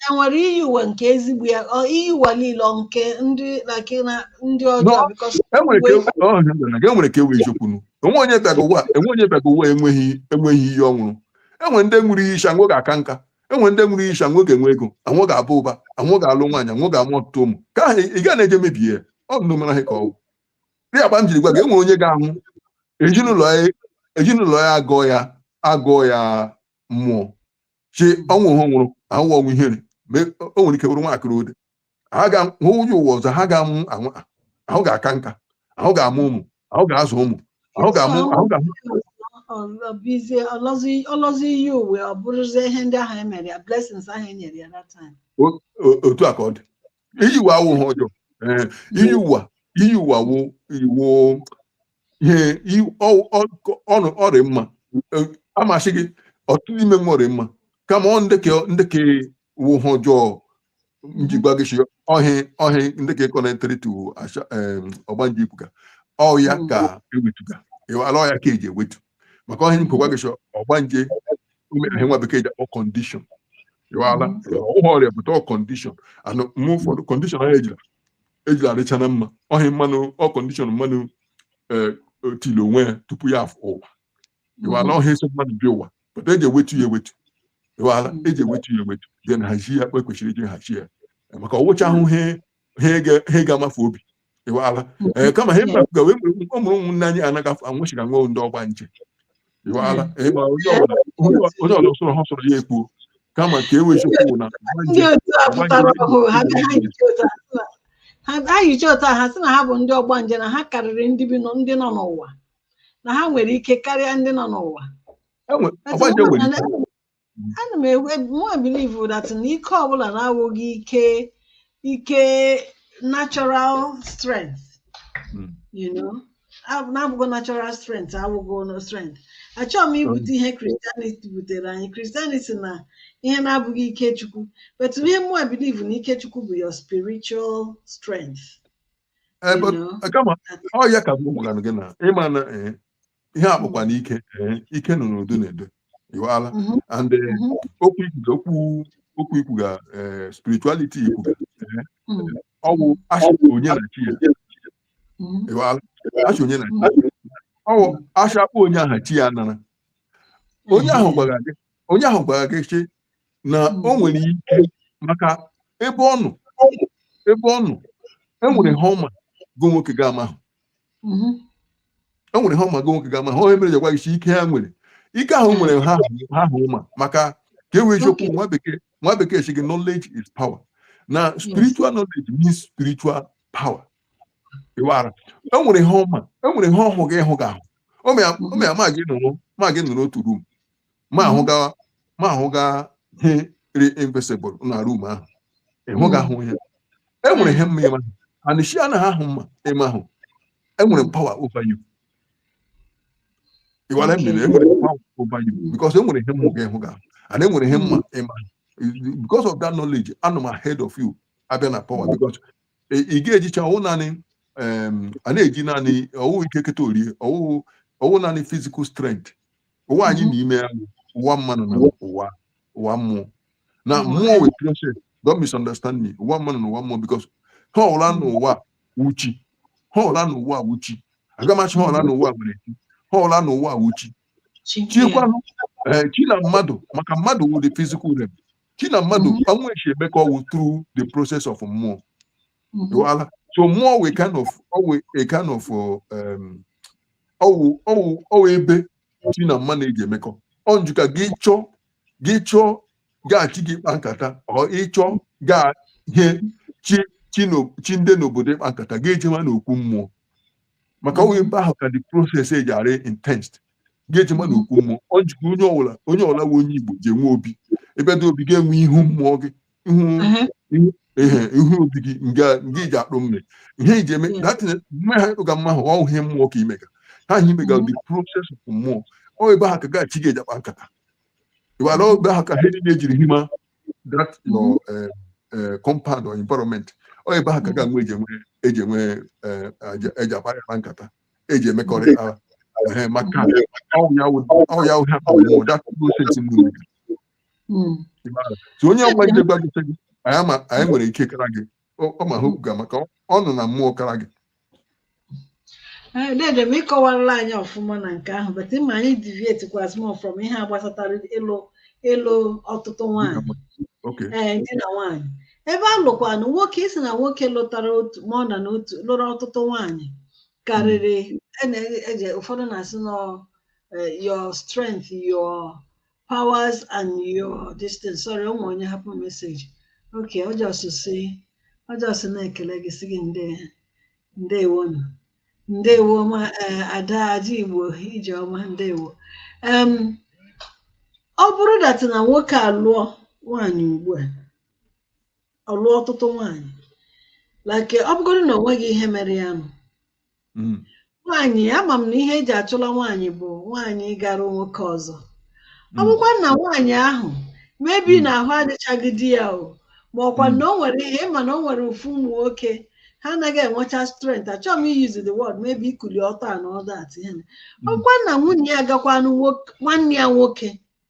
enwere iyi ụwa nke ezigbo ya ọ iyi ụwa niile ọ nke ndị na nke na ndị ọjọọ No. because enwere ka uwe- ewu- ọ, na gị enwere ka ewu eziokwu nu enwe onye bịaga ụwa enwe onye bịaga ụwa enweghị enweghị ihe ọ ṅụrụ enwe ndị ṅụrụ iyi sị ha nwọ ga-aka nka enwe ndị ṅụrụ iyi sị ha nwọ ga-enwe ego ha nwọ ga-aba ụba ha nwọ ga-alụ nwaanyị ha nwọ ga-amụ ọtụtụ ụmụ ka ahụ ị ga na-eje mebie ya ọ bụ na ọ mara ha ka ọgwụ ihe kpa m jiri gwa gị enwere onye ga-anwụ ezinụlọ ya ezinụlọ ya agọọ ya agọọ ya mmụọ sị ọnwụ ha nwụrụ ahụ wụ ọnwụ ihere ma o nwere ike bụrụ nwakịrị ode ha ga hụ ụjọ ụwa ọzọ ha ga-amụ anwa ahụ ga-aka nka ahụ ga-amụ ụmụ ahụ ga-azụ ụmụ ahụ ga-amụ ahụ ga-amụ ọbizie ọ lọzie ọ lọzie iyi ụwa ọ bụrụzie ihe ndị ahụ emere ya blessings ahụ enyere ya that time o- o- otu a ka ọ dị iyi ụwa awụ ihe ọjọọ ee iyi ụwa iyi ụwa awụ iwu ihe i- ọ- ọ- ọnụ ọ rị mma Eh, a m asị gị ọtụtụ n'ime nwa ọ rị mma kama ọ ndị ke ndị ke wụ ihe ọjọọ m ji gwa gị si ọhị ọhị ndị ke connectịrị to asha em, ọgbanje ị kwuga ọ ya ka ewetuga ịwala ọ ya ka eji ewetu maka ọhị ka m gwa gị si ọgbanje imere ihe nwa bekee ji akpọ condition ịwaala awụhụ ọrịa but ọ condition anụ mgbe ụfọdụ condition ahụ ejila ejila adịcha na mma ọhị mmanụ ọ condition mmanụ ee o tili onwe ya tupu ya afọ ụwa ịwaala ọhịa esi mmadụ bịa ụwa but eji ewetu ya ewetu ịwaala eji ewetu ya ewetu dị na hazi ya kpa e kwesịrị iji hazi ya maka ọ wụchahụ ihe ha ị ga-amafụ obi ịwala ee kama ha mmadụ gawe ọ mụrụ ụmụnne anyị anaghị afọ anwụchi ka nwee ndị ọgba nje ịwala ịgba onye ọbụla onye ọbụla sọrọ ha sọrọ ya ekpuo kama ka e wee chekwu na ndị otu a pụtara ọhụụ ha bịa ha yichi otu a sị na- ha- ha yichi otu a ha sị na ha bụ ndị ọgba nje na ha karịrị ndị bi nọ- ndị nọ n'ụwa na ha nwere ike karịa ndị nọ n'ụwa enwe ọgba nje nwere ike ana m mụwa believe that na ike ọbụla na-awụghị ike ike natural strength Mm. you know Ab- na-abụghị natural strength awụghị no strength achọghị m ibute ihe Christianity butere anyị Christianity na ihe na-abụghị ike chukwu but ihe mụwa believe na ike chukwu bụ your spiritual strength Eh, you but, know eh, kama ọ ya ka m gwara gị na ịma na eh, ihe a kpọkwanụ ike ee, ike nọ n'ụdị n'ụdị iwala Mhm. and eh, Mhm. okwu ikwuga okwu okwu ikwuga eh, spirituality ikwuga eh, Mm. ọwụ asha onye na chi ya Mhm. iwala asha onye na chi ya ọwụ asha kpọ onye aha chi ya nara onye ahụ gwara gị onye ahụ gwara gị sị na o nwere ike maka ebe ọ nọ ebe ọ nọ e nwere ihe ọ ma gị nwoke gị amahụ mhm. o nwere ihe ọ ma gị nwoke gị amahụ ọ ihe mere jekwa isi ike ha nwere ike ahụ nwere ha ha hụ ma maka ka ọ wụ eziokwu nwa bekee nwa bekee sị gị knowledge is power na spiritual knowledge means spiritual power ịwara e nwere ihe ọ ma e nwere ihe ọ hụga ị hụgahụ o mee ma gị nọrọ ma gị nọrọ otu room m ahụga m ahụga ihe rị invisible na room ahụ ị hụgahụ ihe e nwere ihe m ma ị ma and she anaghị ahụ m ma ị mahụ e nwere power over you You are Okay. enwere power over you because e nwere ihe m hụga ị hụgahụ and e nwere ihe m ma ị mahụ because of that knowledge anọ m ahead of you a bịa na power because ị- ị ga-ejicha ọwụ naanị em, a na-eji naanị ọwụ ike keta orie ọwụ ọwụ naanị physical strength ụwa anyị nọ n'ime ya bụ ụwa mmadụ na ụwa ụwa mmụọ na mmụọ wụ process don't misunderstand me ụwa mmadụ na ụwa mmụọ because ihe ọwụla n'ụwa wụ chi ihe ọwụla n'ụwa wụ chi agaghị m ashị ihe ọwụla n'ụwa nwere chi ihe ọwụla n'ụwa wụ chi chi kwanụ ee chi na mmadụ maka mmadụ wụ the physical realm chi na mmadụ na-eshi emekọ ọwụ through the process of mmụọ dụọla so mmụọ wụ a kind of ọwụ a kind of um, ọwụ ọwụ ọwụ ebe chi na mmadụ na-eji emekọ ọ njụ ka gị chọọ gị chọọ gị na chi gị ịkpa nkata or ị chọọ gị na chi chi n'o- chi ndị n'obodo ịkpa nkata gị ejewa n'okwu mmụọ maka ọwụ ebe ahụ ka the process eji arị intense gị ejewa n'okwu mmụọ ọ njụkwa onye ọwụla onye ọwụla wụ onye igbo ji enwe obi ebe dị obi ga-enwe ihu mmụọ gị ihe ihu obi gị nga iji akpụ mmiri ihe iji eme datin mgbe ha ịkpụga mma ahụ ọ ihe mmụọ ka i mega ihe i mega the process of mmụọ ọ ebe ahụ ka gị na chi gị eji akpa nkata ịwara ebe ahụ ka ihe niile eji rị n'ime that your compound or environment ọ ebe ahụ ka gị na ya eji enwe eji enwe eji akpa ya na nkata eji emekọrị ara maka ọ ya ha mmụọ that process mmiri si onye ọgba ije gwa gị sị gị anyị ma anyị nwere ike kara gị ọ ọ ma ha okwuga maka ọ- ọ nọ na mmụọ kara gị dede m ịkọwarala anyị ọfụma na nke ahụ but ma anyị deviate kwa small from ihe a gbasatara ịlụ ịlụ ọtụtụ nwaanyị oke ee di na nwaanyị ebe a lụkwanụ nwoke ịsị na nwoke lụtara otu ma ọ na na otu lụrụ ọtụtụ nwaanyị karịrị a na-eji ụfọdụ na-asị nọ eh, your strength your powers and your distance sorry o nwe onye hapụ message okay ọjọsụ si ọjọsụ na-ekele gị sị gị nde ndewo nụ ndewo ma eh, ada ada igbo ije ọma ndewo Em, ọ bụrụ that na nwoke alụọ nwaanyị ugbu a ọ lụọ ọtụtụ nwaanyị like ọ bụgodu na o nweghị ihe mere ya nụ mm. nwaanyị ama m na ihe eji achụla nwaanyị bụ nwaanyị gara nwoke ọzọ ọ mm. bụkwa na nwaanyị ahụ maybe mm. na ahụ adịchaghị di ya o ma ọkwa na o nwere ihe ị ma na o nwere ofu ụmụ nwoke ha anaghị enwecha strength achọghị m i use the word maybe ikuli ọtọ and all that ihe ọ bụkwa na nwunye ya agakwanụ nwanne ya nwoke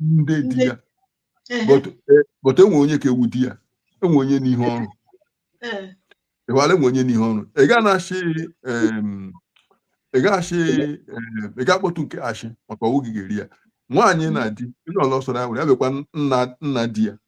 ndị di ya Ehe, but eh, but enwe onye ka ewu di ya enwe onye n'ihe ọrụ eh, ịwara enwe onye n'ihe ọrụ ị ga na-achị em, ị ga-achị em, ị ga-akpọtụ nke achị maka ọ wụ gị ga-eri ya nwaanyị na di ndị ọlọ sọrọ ya were ya bịakwa nna nna di ya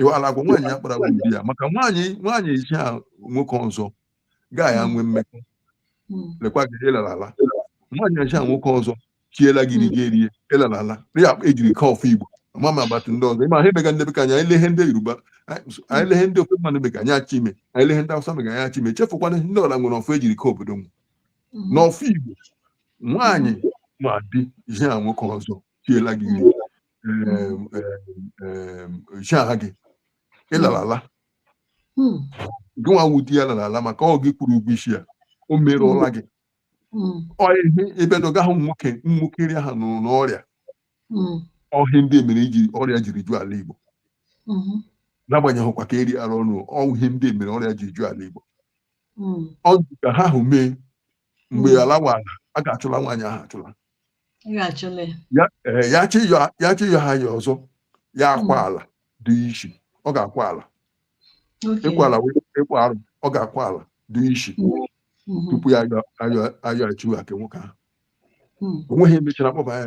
ịwala agwa nwaanyị ya kpara di ya maka nwaanyị nwaanyị eji a nwoke ọzọ gaa ya nwee mmekọ lekwa gị ịlalala nwaanyị eji a nwoke ọzọ siela gị nri gị erie ịlalala ya ejiri ka ọfụ igbo ama m agbata ndị ọzọ ịma ha emega ndị bekee anyị lee ihe ndị yoruba anyị lee ihe ndị ofe mmadụ mega anyị achọ ime anyị lee ihe ndị awụsa mega anyị achọ ime chefukwa na ndị ọla nwere ọfụ ejiri ka obodo m n'ọfụ igbo nwaanyị ma di ihe a nwoke ọzọ siela gị ihe em, em, em, chi aha gị ịlara ala Mm, gị nwa wụ di ya lara ala maka ọ gị kwụrụ ụgwọ isi ya o merụọla gị mm, ọ ihe ebe na ọ gaghị ụmụ nwoke ụmụ nwoke iri aha nụrụ n'ọrịa mm, ọ ihe ndị mere iji ọrịa jiri ju ala igbo mhm, n'agbanyeghịkwa ka eri ara ọnụ ọ wụ ihe ndị mere ọrịa ji ju ala igbo mm, ọ dị ka ihe ahụ mee mgbe Mm. ala wụ ala a ga-achụla nwaanyị ahụ achụla ya chọọ ịyọ ha anya ọzọ ya akwa hmm. ala dị isi ọ ga-akwa ala ịkwa ala ịkwa arụ ọ ga-akwa ala dị isi hmm. Hmm. tupu ya ayọ achiwe aka nwoke ahụ onweghị emechara kpọba ya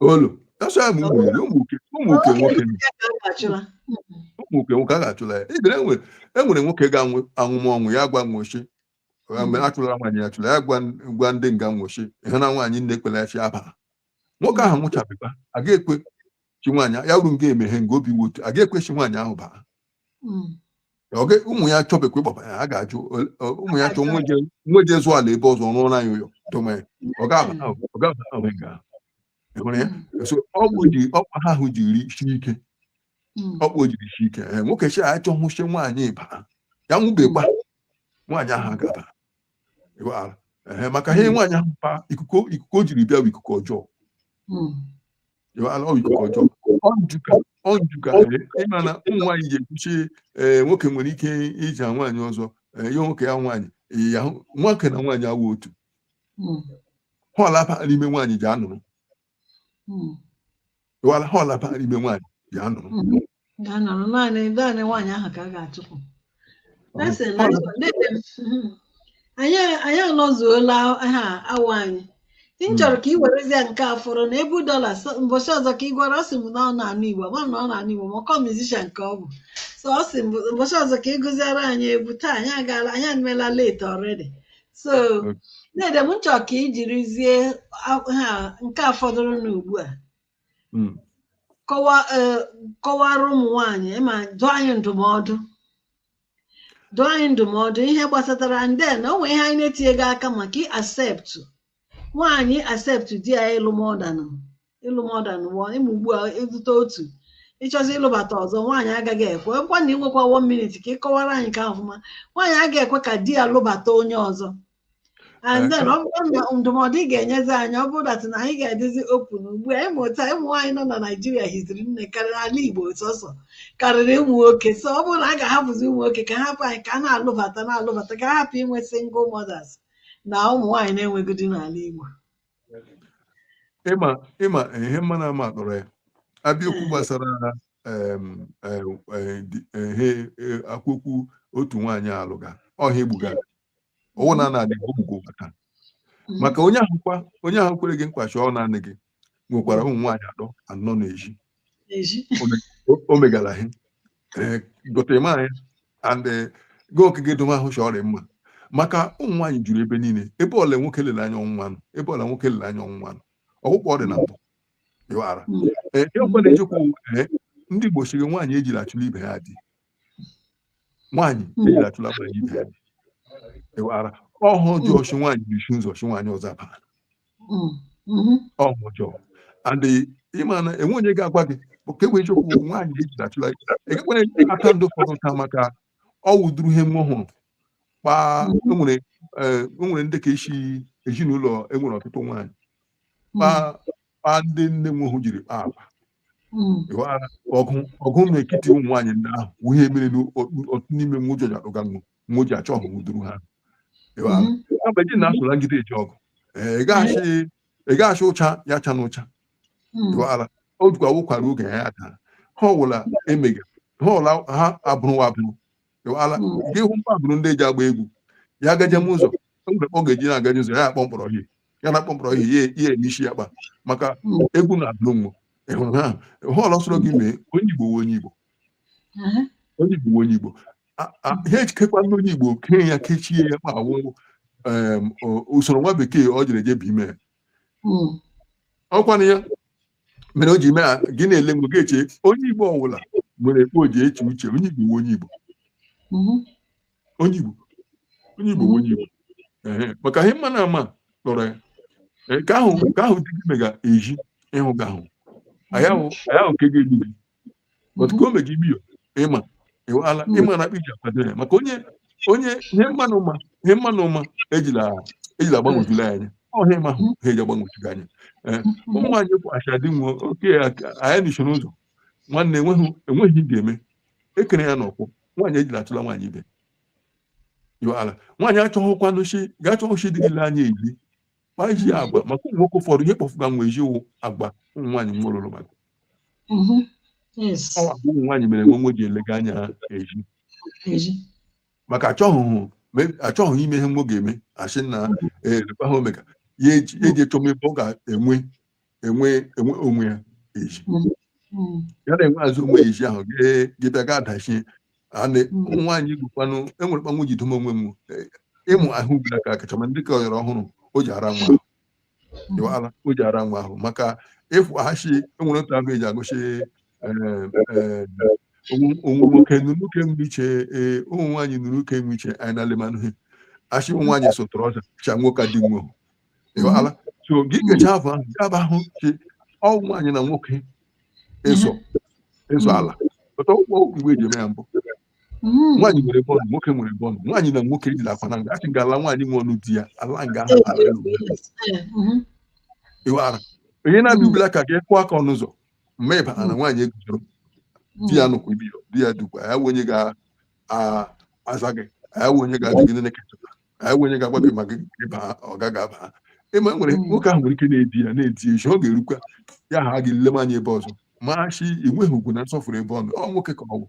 olu tasa m ụmụ nwoke nwoke a ga-achụla ya ibere e nwere nwoke ga-anwụma ọnwụ ya gwa nwo shi achụla nwaanyị achụla ya gwa nde nga nwo shi ihe na nwaanyị nne ekwela shi ya baa nwoke ahụ nwụchabịba aga ekwe shi nwaanyị ya ru nga emeghe nga obi wotu aga ekwe shi nwaanyị ahụ baa hmm. oge ụmụ ya chọbekwa ịkpọba ya a ga-ajụ ụmụ ya chọọ nwo je zụọ ala ebe ọzọ rụọra ya ụyọ dome ọ ga-aba ọgwụ ji ụkpa ha ahụ jiri si ike ụkpa o jiri si ike nwoke shi achọhụ shi nwaanyị baa ya nwụbekwa nwaanyị ahụ aga abaa maka ihe nwaanyị ahụ pa ikuku o jiri bịa bụ ikuku ọjọọ ịma na ụmụ nwaanyị ji ekwuchi ee nwoke nwere ike iji nwaanyị ọzọ ihe nwoke ya nwaanyị ya nwoke na nwaanyị awụ otu họlapa n'ime nwaanyị ji anụrụ họlapa n'ime nwaanyị ji anụrụ ga-anọrọ naanị naanị nwaanyị ahụ ka a ga-achụpụ Ese na Ọ- nne m, mhm. anyị anyị anọzuola awa anyị m chọrọ ka ị werezie nke a fọrọ na ebu dọla so- mbọchị ọzọ ka ị gwara ọ sị m na ọ na-agụ egwu ma na ọ na-agụ egwu ma ọ kọ musician ka ọ bụ so ọ sị m mbọchị ọzọ ka ị gụziere anyị egwu taa anyị agaala anyị emela late already so Okay. dede m chọrọ ka ị jirizie a- ha nke a fọdụrụ n'ugbu a hmm. kọwara ụmụ nwanyị ma dụọ anyị ndụmọdụ dụọ anyị ndụmọdụ ihe gbasatara anyị then o nwere ihe anyị na-etinyeghị aka maka ị-accept nwaanyị ị-accept di ya ịlụ more than ịlụ more than one ị ma ugbu a ị lụta otu ị chọzie ịlụbata ọzọ nwaanyị agaghị ekwe ọkwa na i nwekwa one minute ka ị kọwara anyị ka ọfụma nwaanyị agaghị ekwe ka di ya lụbata onye ọzọ and then ọ bụrụ na ndụmọdụ ị ga-enyezi anyị ọ bụrụ that na anyị ga-adịzi open ugbu a ị ma otu ụmụ nwaanyị nọ na naijiria hiziri nne karịrị ala igbo sọsọ karịrị ụmụ nwoke so ọ bụrụ na a ga-ahapụzi ụmụ nwoke ka hapụ anyị ka a na-alụbata na-alụbata ka a hapụ inwe single mothers na ụmụ nwaanyị na-enweghị di n'ala igbo ị ma ị ma ihe mma na ama akpọrọ ya abịa okwu gbasara em, eh, eh, di- eh, he- eh, akwụkwọ otu nwaanyị alụga ọhịa egbugara ọwụ na ana adịghị ụmụ gị ụwa taa maka onye ahụ kwa onye ahụ kwere gị nkwa shi ọ naanị gị nwekwara ụmụ nwaanyị atọ anọ na-eji Eji. o- o megara ha ee gotere m anya and eh, gị okike dum ahụ chọọ ọrịa mma maka ụmụ nwaanyị juru ebe niile ebe ọbụla nwoke lere anya ọnwụnwa nọ ebe ọbụla nwoke lere anya ọnwụnwa nọ ọgwụkwọ ọrịa na mbụ ịghara Mm. ee ihe ọbụla na-ejekwa ụwa ee ndị Igbo siri nwaanyị ejiri achụla ibe ha di nwaanyị ejila achụla mara ibe ya ewara ọhụ ọjọọ ọchụ nwaanyị na-echu ụzọ ọchụ nwaanyị ọzọ abara Mm, mhm. ọhụ ọjọọ and ịma na enwe onye ga-agwa gị ka egbe chekwu nwaanyị ejila achụla ekekwere aka ndị ụfọdụ nta maka ọ wụduru ihe wo hụrụ kpaa enwere eh, enwere ndị ka esi ezinụlọ enwere ọtụtụ nwaanyị kpaa kpa ndị nne nwehu jiri kpa akpa mm. ọgụ na ekiti ụmụ nwaanyị ndị ahụ wụ ihe mere n'otu n'ime nwa ụjọ jadụga nwa wo ji achọ ọ wụduru ha mgbe ji na-asụla ngide eji ọgụ ị gaghachị ụcha ya cha n'ụcha ala o jikwa wụkwara oge ya ya taa ha ọwụla emega ha ọla ha abụrụwa abụrụ ịwala nke ahụ mba bụrụ ndị eji agba egwu ya agaje m ụzọ mgbe ọ ga-eji na-agaje ụzọ ya akpọ mkpọrọ ihe ya na akpọ mkpọrọ ihe ya eme isi ya kpa maka egwu na-adụrụ nwa ịhụrụ ha họọlụ ọsọrọ gị mee onye igbo wụ onye igbo onye igbo wụ onye igbo ha echekwa ndị onye igbo kee ya kechie ya ma awụ usoro nwa bekee ọ jere je bụ ime ọkwana ya mere o ji mee a- gị na-ele mgbe gị eche onye igbo ọwụla nwere kpa o ji eche uche onye igbo wụ onye igbo Mhm. onye igbo onye igbo wụ onye igbo Ehe, maka ihe mma na ama lọrọ ya Ee, nke ahụ nke ahụ di gị mega eji ịhụ gị ahụ anyị ahụ anyị ahụ nke ga-egbu gị but ka o meji ibi ya ịma ịwala ịma na akpa iji akwado ya maka onye onye ihe mmanụ ụma ihe mmanụ ụma ejila ejila agbanwejula ya anya ọhịa ịma ahụ ha eji agbanwejuga anya ee ụmụ nwaanyị bụ achadị nwe oke aka- anyị n'iso n'ụzọ nwanne enweghị enweghị ị ga-eme ekere ya n'ọkwụ nwaanyị ejila achụla nwaanyị ibe iwe ala nwaanyị achọghịkwanụ chi ga-achọghị chi dị gị lee anya eji ma iji ya agba maka ụmụ nwoke ụfọdụ ihe kpọfụga nwa iji wụ agba ụmụ nwaanyị nwa lụrụ maka Mhm. Yes. ọ bụ ụmụ nwaanyị mere nwe nwe ji elega anya ha eji Eji. maka achọghị me- achọghị ime ihe wo ga-eme asị na elekwa ha omega ya eji ya eji echọm ebe ọ ga-enwe enwe enwe onwe ya eji Mm. Mm. ya na-enwe azụ onwe ya eji ahụ gị- gị bịa ga adachie a na Mm. ụmụ nwaanyị gwukwanụ enwere kpanwụ ji dom onwe m Eh, ịmụ ahụ ugbula ka akacha ma ndị ka ọyọrọ ọhụrụ o ji ara nwa ahụ Mm. ịwala o ji ara nwa ahụ maka ịfụ ahachi enwere otu agụ eji agụchi onwe nwoke nụrụ nwoke nwe iche ee ụmụ nwaanyị nụrụ nwoke nwe iche anyị na-alema nụhe achị ụmụ nwaanyị so trọza cha nwoke dị nwe ị ghọtala so gị kecha afọ ahụ nke abụ ahụ chi ọwụ nwaanyị na nwoke ịzọ ịzọ ala pụta ụgwọ okwu igwe eji eme ya mbụ Mm. nwaanyị nwere bọọlụ nwoke nwere bọọlụ nwaanyị na nwoke ejila akwa na nga achị nga ala nwaanyị nwe ọnụ di ya ala nga ahụ ala elu Eh, mhm. ị ghọtala onye na-abịa ubila ka gị kụọ aka ọnụ ụzọ ma ị bara na nwaanyị eguzoro Mm. di ya nụkwa ibi ya di ya dukwa ya wụ onye ga-aza gị ya wụ onye ga-adịgide na-ekechapụta ya wụ onye ga-agwa gị maka ịba ọ gaghị aba ịma nwere Mm. nwoke ahụ nwere ike na-edi ya na-edi ya echi ọ ga-erukwa ya ha gị lema anya ebe ọzọ machi enweghị ugwu na nsọfụrụ ebe ọ nọ ọ nwoke ka ọ bụ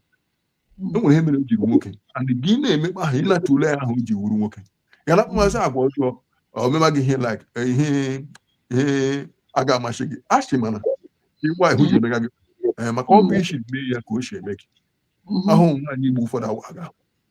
e nwere ihe mere o jiri nwoke and gị na-emekpa ahụ ịnata ule ahụ o ji wuru nwoke ya na mmasị agwa ọjọọ ọ mema gị ihe like ihe ihe a ga-amasị gị a sị mana ịgwa ihu ji emega gị ee, maka ọ bụ isi mee ya ka o si eme gị ahụ nwaanyị igbo ụfọdụ awa aga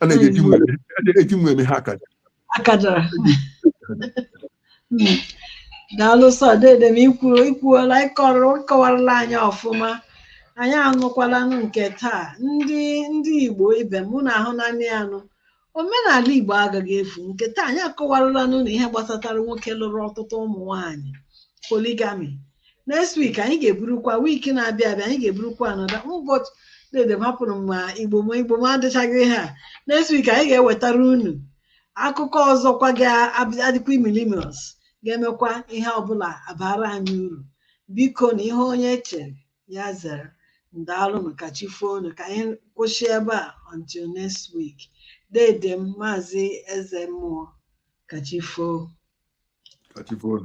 a na-eji eji nwa eme- a na-eji nwa eme ha akaja akajara Mm. daalụ sọ dede m i kwuru i kwuola ị kọrọ ị kọwarala anyị ọfụma anyị anụkwalanụ nke taa ndị ndị igbo ibe m unu ahụnanị anụ omenala igbo agaghị efu nke taa anyị akọwaralanụ unu ihe gbasatara nwoke lụrụ ọtụtụ ụmụ nwanyị polygamy next week anyị ga-eburukwa week na-abịa abịa anyị ga-eburukwa another ụbọchị dede m hapụrụ m ma igbo m igbo m adịchaghị ha next week anyị ga-ewetara unu akụkọ ọzọkwa ga-adịkwa imilimios ga-emekwa ihe ọbụla abara anyị uru bikonu ihe onye chere ya zere ndaalụnụ ka chi foonụ ka anyị kwụsị ebe a until next week dede m maazị eze mmụọ ka chi foo Ka chi foonụ.